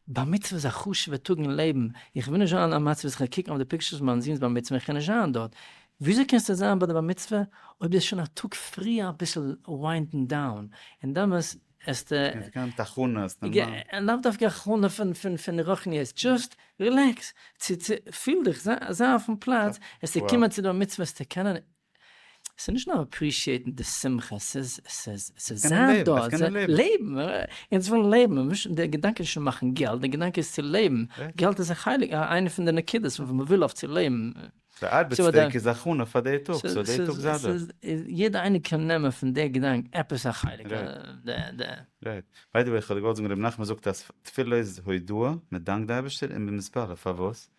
בר מצוה איז א חשוב'ע טאג אין לעבן, איך וויל נישט זיין אין א מצב ווי איך קען קוקן אויף די פיקטשערס פון מיין זון'ס בר מצוה און איך קען נישט זיין דארט, וויאזוי קענסטו זיין ביי די בר מצוה אויב די האסט שוין א טאג פריער אביסל וויינדן דאון, און דאמאלס העסטו. און זיך געהאט הכנות נארמאל. לאו דווקא הכנה פון רוחניות, דזשאסט רילעקס, פיל דיך, זיי אויפן פלאץ, העסטו קומען צו די בר מצוה העסטו קענען ס'איז נישט נאר אפרישיעטן די שמחה, ס'איז זיין דא, לעבן, אונז ווילן לעבן, די געדאנק איז נישט צו מאכן געלט, די געדאנק איז צו לעבן, געלט איז א חלק, איינע פון די נקודות וואס מ'וויל אויף צו לעבן. די ארבעט'ס טעג איז הכנה פאר די טאג, סאו די טאג זייט דא. יעדער איינער קען נעמען פון די געדאנק עפעס א חלק. רייט. ביי די וועי, כ'האב געוואלט זאגן, רבי נחמן זאגט אז תפילה איז הודאה, מ'דאנקט די אייבערשטער, און במספרה, פארוואס?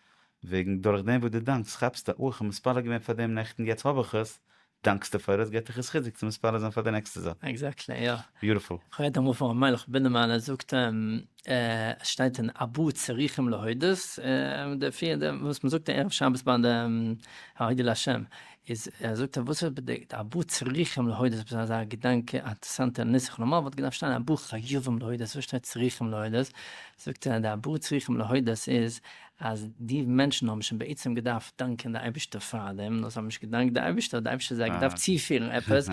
וועגן דורך דעם וואס דו דאנקסט כאפסטו אוי כ'האב מתפלל געווען פאר דעם נעכטן יעצט האב איך עס, דאנקסטו פאר עס געט עס חיזוק צו מתפלל זיין פאר די נעקסטע זאך. עקזעקטלי יא. ביוטיפול. כ'רעד אמאל פון ר' מיילעך בינעמאן ער זאגט עס שטייט אין אבו צריכים להודות די פיר די וואס מ'זאגט ערב שבת ביי די הודו לה' איז ער זאגט ער וואס באדייט אבו צריכים להודות עפעס אזא געדאנק אינטערסאנטע נוסח נארמאל וואלט געדארפט שטיין אבו חייבים להודות וואס שטייט צריכים להודות זאגט ער די ארבעה צריכים להודות איז אז די מענטשן האבן שוין בעצם געדארפט דאנקען די אייבערשטער פארדעם נאר זיי האבן נישט געדאנקט די אייבערשטער האט די אייבערשטער זיי געדארפט צופירן עפעס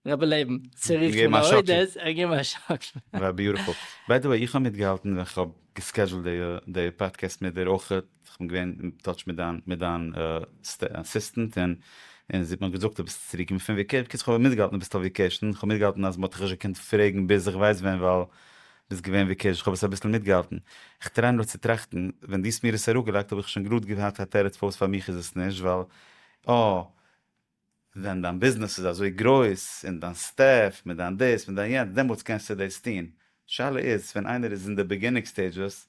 רבי לעבן צריכים להודות ער געבן א שאקל. וואו ביוטיפול. ביי די וועי איך האב מיטגעהאלטן ווען כ'האב געסקעדזשולט די פאדקעסט מיט דיר אויכעט, כ'בין געווען אין טאטש מיט דיין מיט דיין אסיסטענט און און זי האט מיר געזאגט אז ביסט צוריק געקומען פון וועקעישן, בקיצור כ'האב אבער מיטגעהאלטן אז ביסט אויף וועקעישן, כ'האב מיטגעהאלטן אז מ'האט דיך נישט געקענט פרעגן ביז כ'ווייס ווען ווייל ביסט געווען ווי קיש, כ'האב עס אביסל מיטגעהאלטן. איך טריי נאר צו טראכטן, ווען דו האסט מיר עס אראפגעלייגט האב איך שוין גראד געהאט א תירוץ פארוואס פאר מיך איז עס נישט, ווייל אה, ווען דיין ביזנעס איז אזוי גרויס, און דיין סטעף, מיט דיין דאס, מיט דיין יענץ, דעמאלטס קענסטו דאס טון. שאלה איז, ווען איינער איז אין די ביגינינג סטעידזשעס,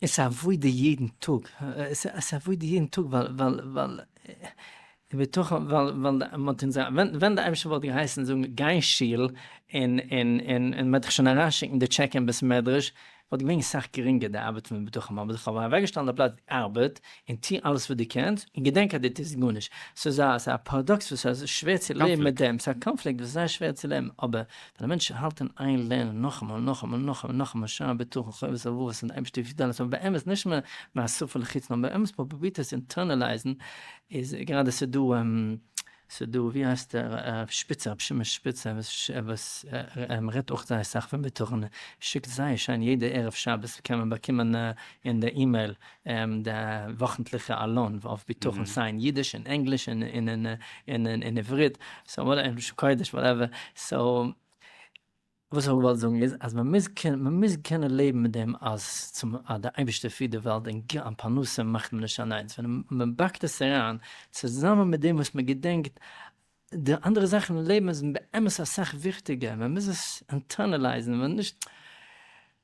עס איז עבודה יעדן טאג, עס איז עבודה יעדן טאג ווייל ווייל ובתוכם ווייל ווייל מען האט אונז ווען ווען די אייבערשטער וואלט געהייסן זאגן גיי אין שול און און און מען וועט דיך שוין אריינשיקן די טשעק אין בית מדרש וואלט געווען סאך גרינגער די ארבעט פון ובתוכם האבן זיך אבער אוועקגעשטעלט די פלאץ ארבעט און טוה אלעס וואס דו קענסט און געדענק אז דו טוסט גארנישט סאיז א סאיז א פאראדאקס וואס סאיז שווער צו לעבן מיט דעם סאיז א קאנפליקט וואס איז זייער שווער צו לעבן אבער ווען א מענטש האלט אין איין לערנען נאכאמאל און נאכאמאל און נאכאמאל און נאכאמאל שער בטחון חובת הלבבות און די אייבערשטער וויל אלעס אבער באמת נישט מהשפה אל החוץ נאר באמת פרובירט עס אינטערנעלייזן איז גראדע ס'דא ס'דא ווי הייסט ער שפיצער רבי שמעון שפיצער וואס ער רעדט אויך זייער סאך פון בטחון ער שיקט זייער שיין יעדע ערב שבת קען מען באקומען אין די אימעיל די וואכנטליכע עלון אויף בטחון סיי אין אידיש אין ענגליש אין עברית סאו און קוידיש וואטעווער סאו וואס איך האב געוואלט זאגן איז אז מען מוז קענען מען מוז קענען לעבן מיט דעם אז צום אז די אייבערשטער פירט די וועלט און ג א פרנסה מאכט מען נישט אליינס ווען מען באקט עס אריין צוזאמען מיט דעם וואס מען געדענקט די אנדערע זאכן אין לעבן איז באמת אסאך וויכטיגער מען מוז עס אינטערנעלייזן מען נישט.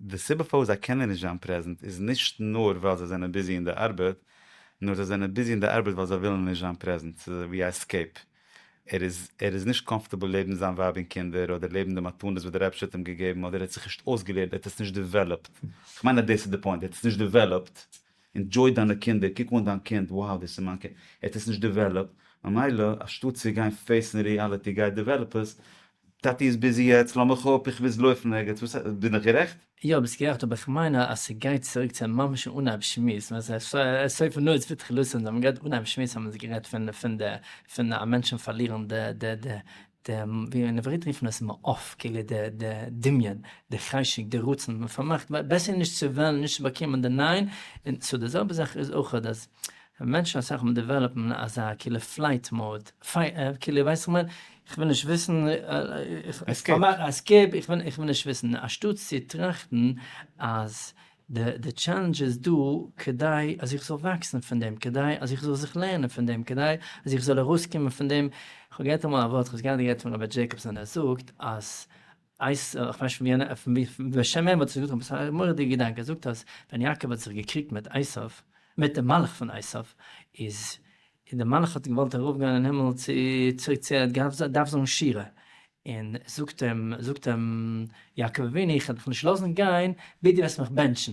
די סיבה פארוואס זיי קענען נישט זיין פרעזענט איז נישט נאר ווייל זיי זענען ביזי אין די ארבעט, נאר זיי זענען ביזי אין די ארבעט ווייל זיי ווילן נישט זיין פרעזענט, ס'איז אזויווי א עסקעיפ. ער איז ער איז נישט קאמפארטעבל לעבן זיין ווייב און קינדער, אדער לעבן די מתנות וואס די רבש ע האט אים געגעבן, אדער ער האט זיך נישט אויסגעלערנט, ער האט עס נישט דעוועלאפט. כ'מיין אז דאס איז די פוינט, ער האט עס נישט דעוועלאפט. ענדזשוי דיינע קינדער, קוק אן דיין קינד, wow דאס איז מיין קינד. ער האט עס נישט דעוועלאפט, ממילא אנשטאט צו גיין פעיסן ריעליטי גייט דעוועלאפ עס, טאטי איז ביזי יעצט, לאמיך אפ, איך מוז לויפן ערגעץ, וואס הייסט? בין איך גערעכט? יא ביסט גערעכט אבער איך מיין אז ס'גייט צוריק צו ממש אן אנהייב שמועס ווען ס'איז סוף נאר איז ותחילתו און זיי האבן גערעדט אנהייב שמועס האבן זיי גערעדט פון די פון א מענטשן פארלירן די די די די ווי אין עברית רופט מען עס מעוף כאילו די די דמיון די חשק די רצון מ'פארמאכט בעסער נישט צו וועלן נישט צו באקומען די ניין און סאו די זעלבע זאך איז אויכעט אז ווען מענטשן אסאך מאל דעוועלאפן אזא כאילו פלייט מאוד, כאילו ווייס איך מיין, איך וויל נישט וויסן, עסקעיפ, איך וויל נישט וויסן, אנשטאטס צו טראכטן אז די טשעלענדזש איז דא כדי אז איך זאל וואקסן פון דעם, כדי אז איך זאל זיך לערנען פון דעם, כדי אז איך זאל ארויסקומען פון דעם. כ'האב געהערט אמאל א ווארט, כ'האב עס גראדע געהערט פון ראבערט דזשעיקאבסאן, ער זאגט אז הייסט ער, כ'ווייס נישט ווי און ווי, בשם וועם האט ער עס געזאגט, אבער ס'איז א מורא'דיגע געדאנק, ער זאגט אז ווען יעקב האט זיך געקריגט מיט עשיו, מיט דעם מלאך פון עשיו, איז איז דער מלאך האט געוואלט ארויפגיין אין הימל צו צוריק צו ער האט דארף זאגן שירה, און זאגט אים זאגט אים יעקב אבינו איך וועל דיך נישט לאזן גיין ביז דו וועסט מיך בענטשן,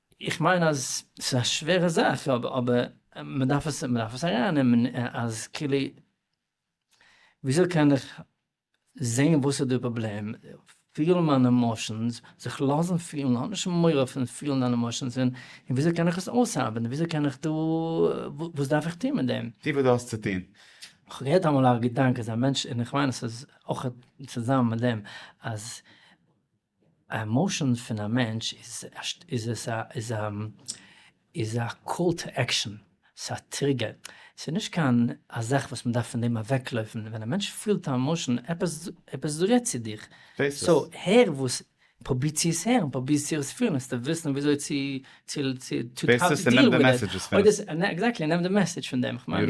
איך מיין אז ס'איז א שווערע זאך, אבער מ'דארף עס מ'דארף עס ארייננעמען אז כאילו וויאזוי קען איך זעהן וואס איז די פראבלעם, פילן מיינע עמאשענס, זיך לאזן פילן, האב נישט מורא פון פילן דיינע עמאשענס, און וויאזוי קען איך עס אויסארבעטן, וויאזוי קען איך דא, וואס דארף איך טון מיט דעם. טו וואס דו האסט צו טון. כ'האב געהערט אמאל א געדאנק אז א מענטש, און איך מיין עס איז אויך צוזאמען מיט דעם, אז א עמאושען פון א מענטש איז א קאל טו עקשאן, ס'איז א טריגער, ס'איז נישט קיין א זאך וואס מען דארף פון דעם אוועקלויפן, ווען א מענטש פילט א עמאושען, עפעס רעדט צו דיך, סאו הער וואס, פרוביר צו עס הערן, פרוביר צו עס פילן, וועסטו וויסן וויאזוי צו דיעל מיט עס, אוי דאס, עקזעקטלי נעם די מעסעדזש פון דעם, כ'מיין,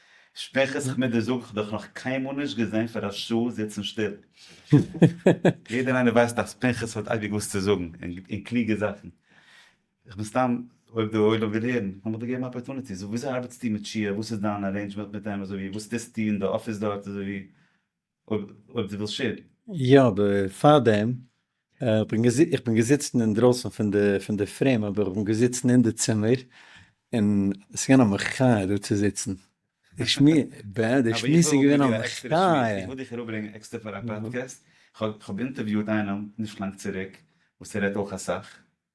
שפעכער זיך מיט דיר זאג איך דיך נאך קיינמאל נישט געזען פאר א שעה זיצן שטיל. יעדער איינער ווייסט אז פנחס האט אייביג וואס צו זאגן און קלוגע זאכן. איך בין סתם אויב די עולם וויל הערן לאמיך דיר געבן א אפערטוניטי. זאג וויאזוי ארבעטסטו מיט שיער? וואס איז דיין ארעינדזשמענט מיט אים אזויווי וואס טוסטו אין די אפיס דארט אזויווי? אויב דו ווילסט שערן. יא, בעפאר דעם, איך בין געזיצן אינדרויסן פון די פון די פרעים אבער איך בין געזיצן אין די צימער און עס איז געווען א מחיה דא צו זיצן, די שמועס איז געווען א מחיה. איך וויל דיך אראפברענגען עקסטער פאר א פאדקעסט, איך האב אינטערוויוט איינעם נישט לאנג צוריק וואס ער רעדט אויך אסאך,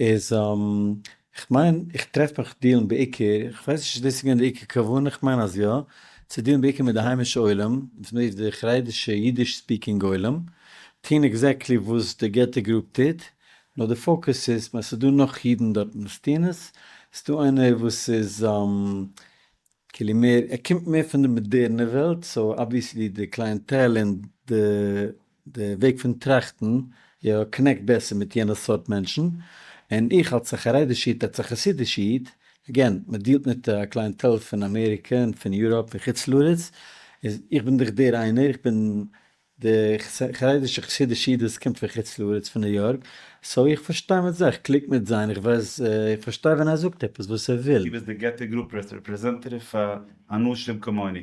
איז כ'מיין איך טרעף מיך דיעלן בעיקר, כ'ווייס נישט צו דאס איז געווען די עיקר כוונה, כ'מיין אז יא, צו דיעלן בעיקר מיט די היימישע עולם, וואס מ'רופט די חרדישע אידיש ספיקינג עולם, טוהן עקזעקטלי וואס די געטא גרופ טוט, נאר די פאוקוס איז, כ'מיין ס'איז דא נאך אידן דארטן וואס טוהן עס, ס'דא איינער וואס איז כאילו מער, ער קומט מער פון די מאדערנע וועלט, סאו אבוויעסלי די קלייענטעל און די די וועג פון טראכטן יא קנעקט בעסער מיט יענע סארט מענטשן, און איך אלס א חרדיש איד, אלס א חסידיש איד, אגעין, מען דיעלט מיט א קלייענטעל פון אמעריקע און פון יוראפ און חוץ לארץ, איז איך בין דאך דער איינער, איך בין די חרדישע חסידישע איד וואס קומט פון חוץ לארץ פון ניו יארק, סאו איך פארשטיי מיט זיי, איך קליק מיט זיי, און איך ווייס, איך פארשטיי ווען ער זאגט עפעס וואס ער וויל. דו ביסט די געטא גרופ רעפרעזענטעטיוו פאר אנשים כמוני.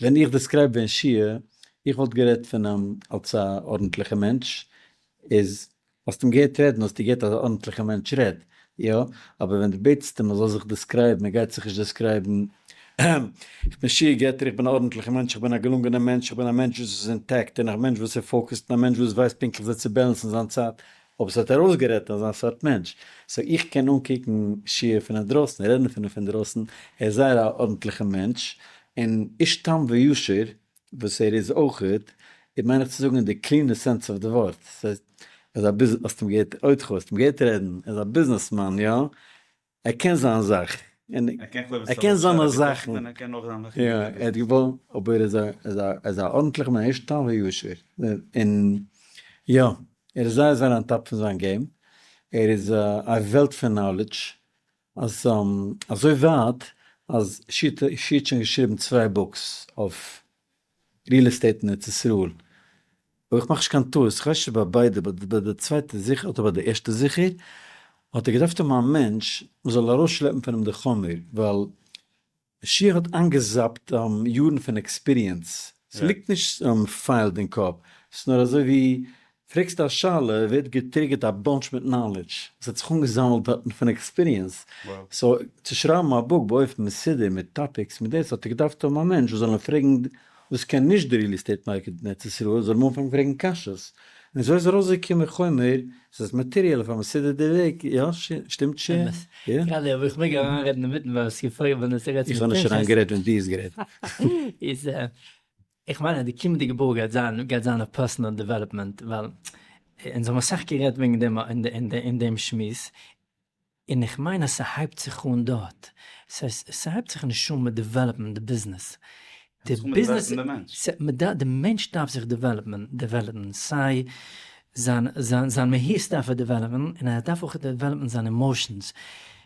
ווען איך דעסקרייב בן שיח, איך וואלט גערעדט פון אים אלס א ארנטליכע מענטש, איז האסט אים געהערט רעדן האסטו געהערט אז א ארנטליכע מענטש רעד, יא? אבער ווען די בעטסט אים ער זאל זיך דעסקרייבן ער גייט זיך נישט דעסקרייבן, אהמ, איך בין שיח געטער איך בין א ארנטליכע מענטש איך בין א געלונגענע מענטש איך בין א מענטש וואס איז אינטעקט און א מענטש וואס איז פאוקעסט און א מענטש וואס ווייסט פונקטליך ווי צו בעלענסן זיין צייט, אבער ס'האט ער אויסגערעדט אזא סארט מענטש. סאו איך קען אנקוקן שי ע פון אדרויסן, רעדן פון אים פון דרויסן, ער איז זייער א ארנטליכע מענטש, און איש תם וישר וואס ער איז אויך, איז מיין איך צו זאגן אין די קלינע סענס אוו די ווארט, ס'הייסט ער איז א ביז, האסט אים געהערט, אויתכו האסט אים געהערט רעדן, ער איז א ביזנעסמאן, יא, ער קען זיין זאך. און ער קען כלומר'ס זיין אויך זיינע זאכן. און ער קען אויך זיין זאכן. יא, ער האט געוואלט, אבער ער איז א, ער איז א, ער איז א ארנטליכע מענטש, תם וישר. און יא, ער איז זייער זייער אן טאפ פון זיין געים. ער איז א וועלט פון נאלעדזש. אז, אזוי ווייט אז שי' האט שוין געשריבן צוויי בוקס אויף ריעל עסטעיט אין ארץ ישראל, אויב איך מאך נישט קיין טעות, כ'ווייס נישט ביי ביידע באט ביי די צווייטע זיכער אדער ביי די ערשטע זיכער, האט ער געדארפט האבן א מענטש וואס זאל ארויסשלעפן פון אים די חומר, ווייל שיח האט איינגעזאפט יארן פון עקספיריענס, ס'ליגט נישט פיילד אין קאפ, ס'איז נאר אזוי ווי פרעגסט א שאלה ווערט געטריגערט א באנטש מיט נאלעדזש וואס האט זיך אנגעזאמלט דארטן פון עקספיריענס, סאו צו שרייבן א בוק באופן מסודר מיט טאפיקס מיט דעס האט ער געדארפט האבן א מענטש וואס זאל אים פרעגן וואס קען נישט די ריעל עסטעיט מארקעט אין ארץ ישראל זאל אים אנפאנגן פרעגן קשיות און אזוי איז ארויסגעקומען חומר וואס איז מאטעריעל אויף א מסודר'טע וועג, יא? שטימט ש י? גראדע האב איך מעג אריינרעדן אינמיטן ווייל ס'געפעלט ווען עס רעדט זיך איך האב נישט אריינגערעדט ווען דו האסט גערעדט. איז איך מיין אז די קומענדיגע בוך גייט זיין גייט זיין אויף פערסאנעל דעוועלאפמענט ווייל אונז האבן אסאך גערעדט וועגן דעם אין דעם שמועס און איך מיין אז ס'הייבט זיך אן דארט. ס'הייבט זיך נישט אן מיט דעוועלאפן די ביזנעס. די מענטש דארף זיך דעוועלאפן. סיי זיין מהות דארף ער דעוועלאפן און ער דארף אויך דעוועלאפן זיינע עמאושענס.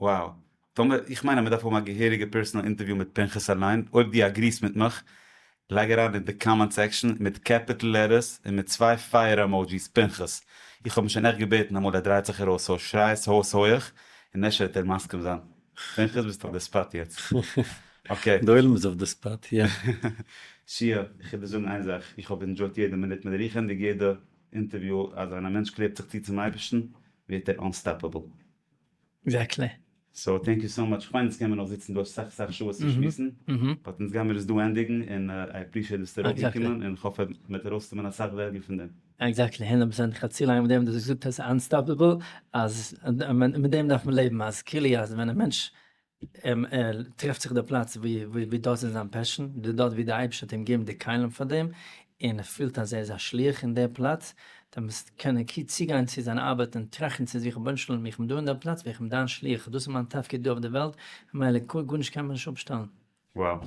וואו. טאמער, איך מיין אז מ'דארף האבן א געהעריגע פערסאנעל אינטערוויו מיט פנחס אליין, אויב דו אגריסט מיט מיך, לייג אריין אין די קאמענט סעקשאן מיט קעפיטל לעטערס און מיט צוויי פייער עמאודזשיס פנחס, איך האב אים שוין עכט געבעטן אמאל ער דרייט זיך ארויס סאו שריי עס אויס הויעך און אפשר וועט ער מסכים זיין. פנחס ביסט אויף די ספאט יעצט. אקעי. די עולם איז אויף די ספאט יא. שיע, איך וועל דיר זאגן איין זאך, איך האב ענדשויט יעדע מינוט מיט רוחענדיג יעדע אינטערוויו, אז ווען א מענטש קלעבט זיך צו צום אייבערשטן ווערט ער אנסטאפעבל. עקזעקטלי. סאו טענק יו סאו מאטש, כ'מיין אונז קען מיר נאך זיצן דא אסאך אסאך שעות צו שמועסן, באט אונז גיימיר עס דא ענדיגן, און איי עפרישיעט ביסטו ארויף געקומען, און כ'האף מ'וועט ארויסנעמען אסאך וועליו פון דעם. עקזעקטלי, הונדערט פראצענט, כ'האב צו לאנג מיט דעם, דו האסט געזאגט עס איז אנסטאפעבל, אז מיט דעם דארף מען לעבן, אז כאילו אז ווען א מענטש ער טרעפט זיך די פלאץ ווי דאס איז זיין פעשאן, די דארט ווי די אייבערשטער האט אים געגעבן די כלים פאר דעם, און ער פילט אז ער איז א שליח אין די פלאץ, דער מוז קענען קי צוגיין צו זיין ארבעט און טראכטן צו זיך רבונו של עולם איך בין דא אין די פלאץ ווי איך בין דיין שליח דאס איז מיין תפקיד דא אויף די וועלט, ממילא גארנישט קען מיר נישט אפשטעלן. Wow.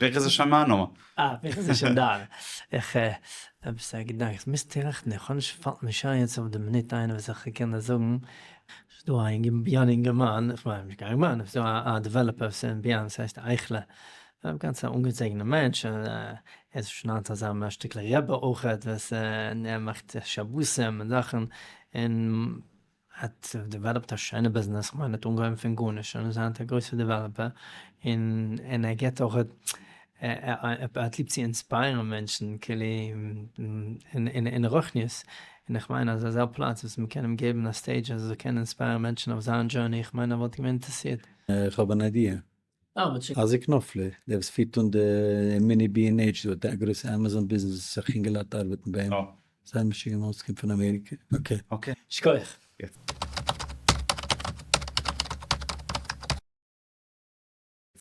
ווער איז עס שמענו? אה, ווער איז עס שנדער? איך האב עפעס א געדאנק, איך מוז טראכטן, איך האב נישט, פאלט נישט איין יעצט אויף די מינוט איינער וואס איך קען דאס זאגן. ס'איז דא א יונגערמאן, איך מיין נישט קיין יונגערמאן, ס'איז דא א דעוועלאפער וואס איז אין ביהמ ד, ס'הייסט אייכלער, גאנץ א אנגעזעגענער מענטש, ער איז שוין היינט אזא מערסטעקליג רבי אויכעט, וואס ער מאכט שבתים און זאכן, און האט דעוועלאפט א שיינע ביזנעס, כ'מיין ער האט אנגעהויבן פון גארנישט און איז היינט א גרויסע דעוועלאפער, און ער געט אויך, ער האט ליב צו אינספייערן מענטשן כאילו אין רוחניות, און איך מיין אז אזא פלאץ וואס מ'קען אים געבן א סטעידזש אז ער זאל קענען אינספייערן מענטשן אויף זיין דזשורני, איך מיין ער וואלט געווען אינטערעסירט. איך האב אן איידיע, אייזיק נאפלער, דער וואס פירט אן די מיני בי ענד עיטש דא, די גרויסע אמאזאן ביזנעס וואס אסאך אינגעלייט ארבעטן ביי אים, זיין משוגע מאמע וואס קומט פון אמעריקע, אקעי. שכוח.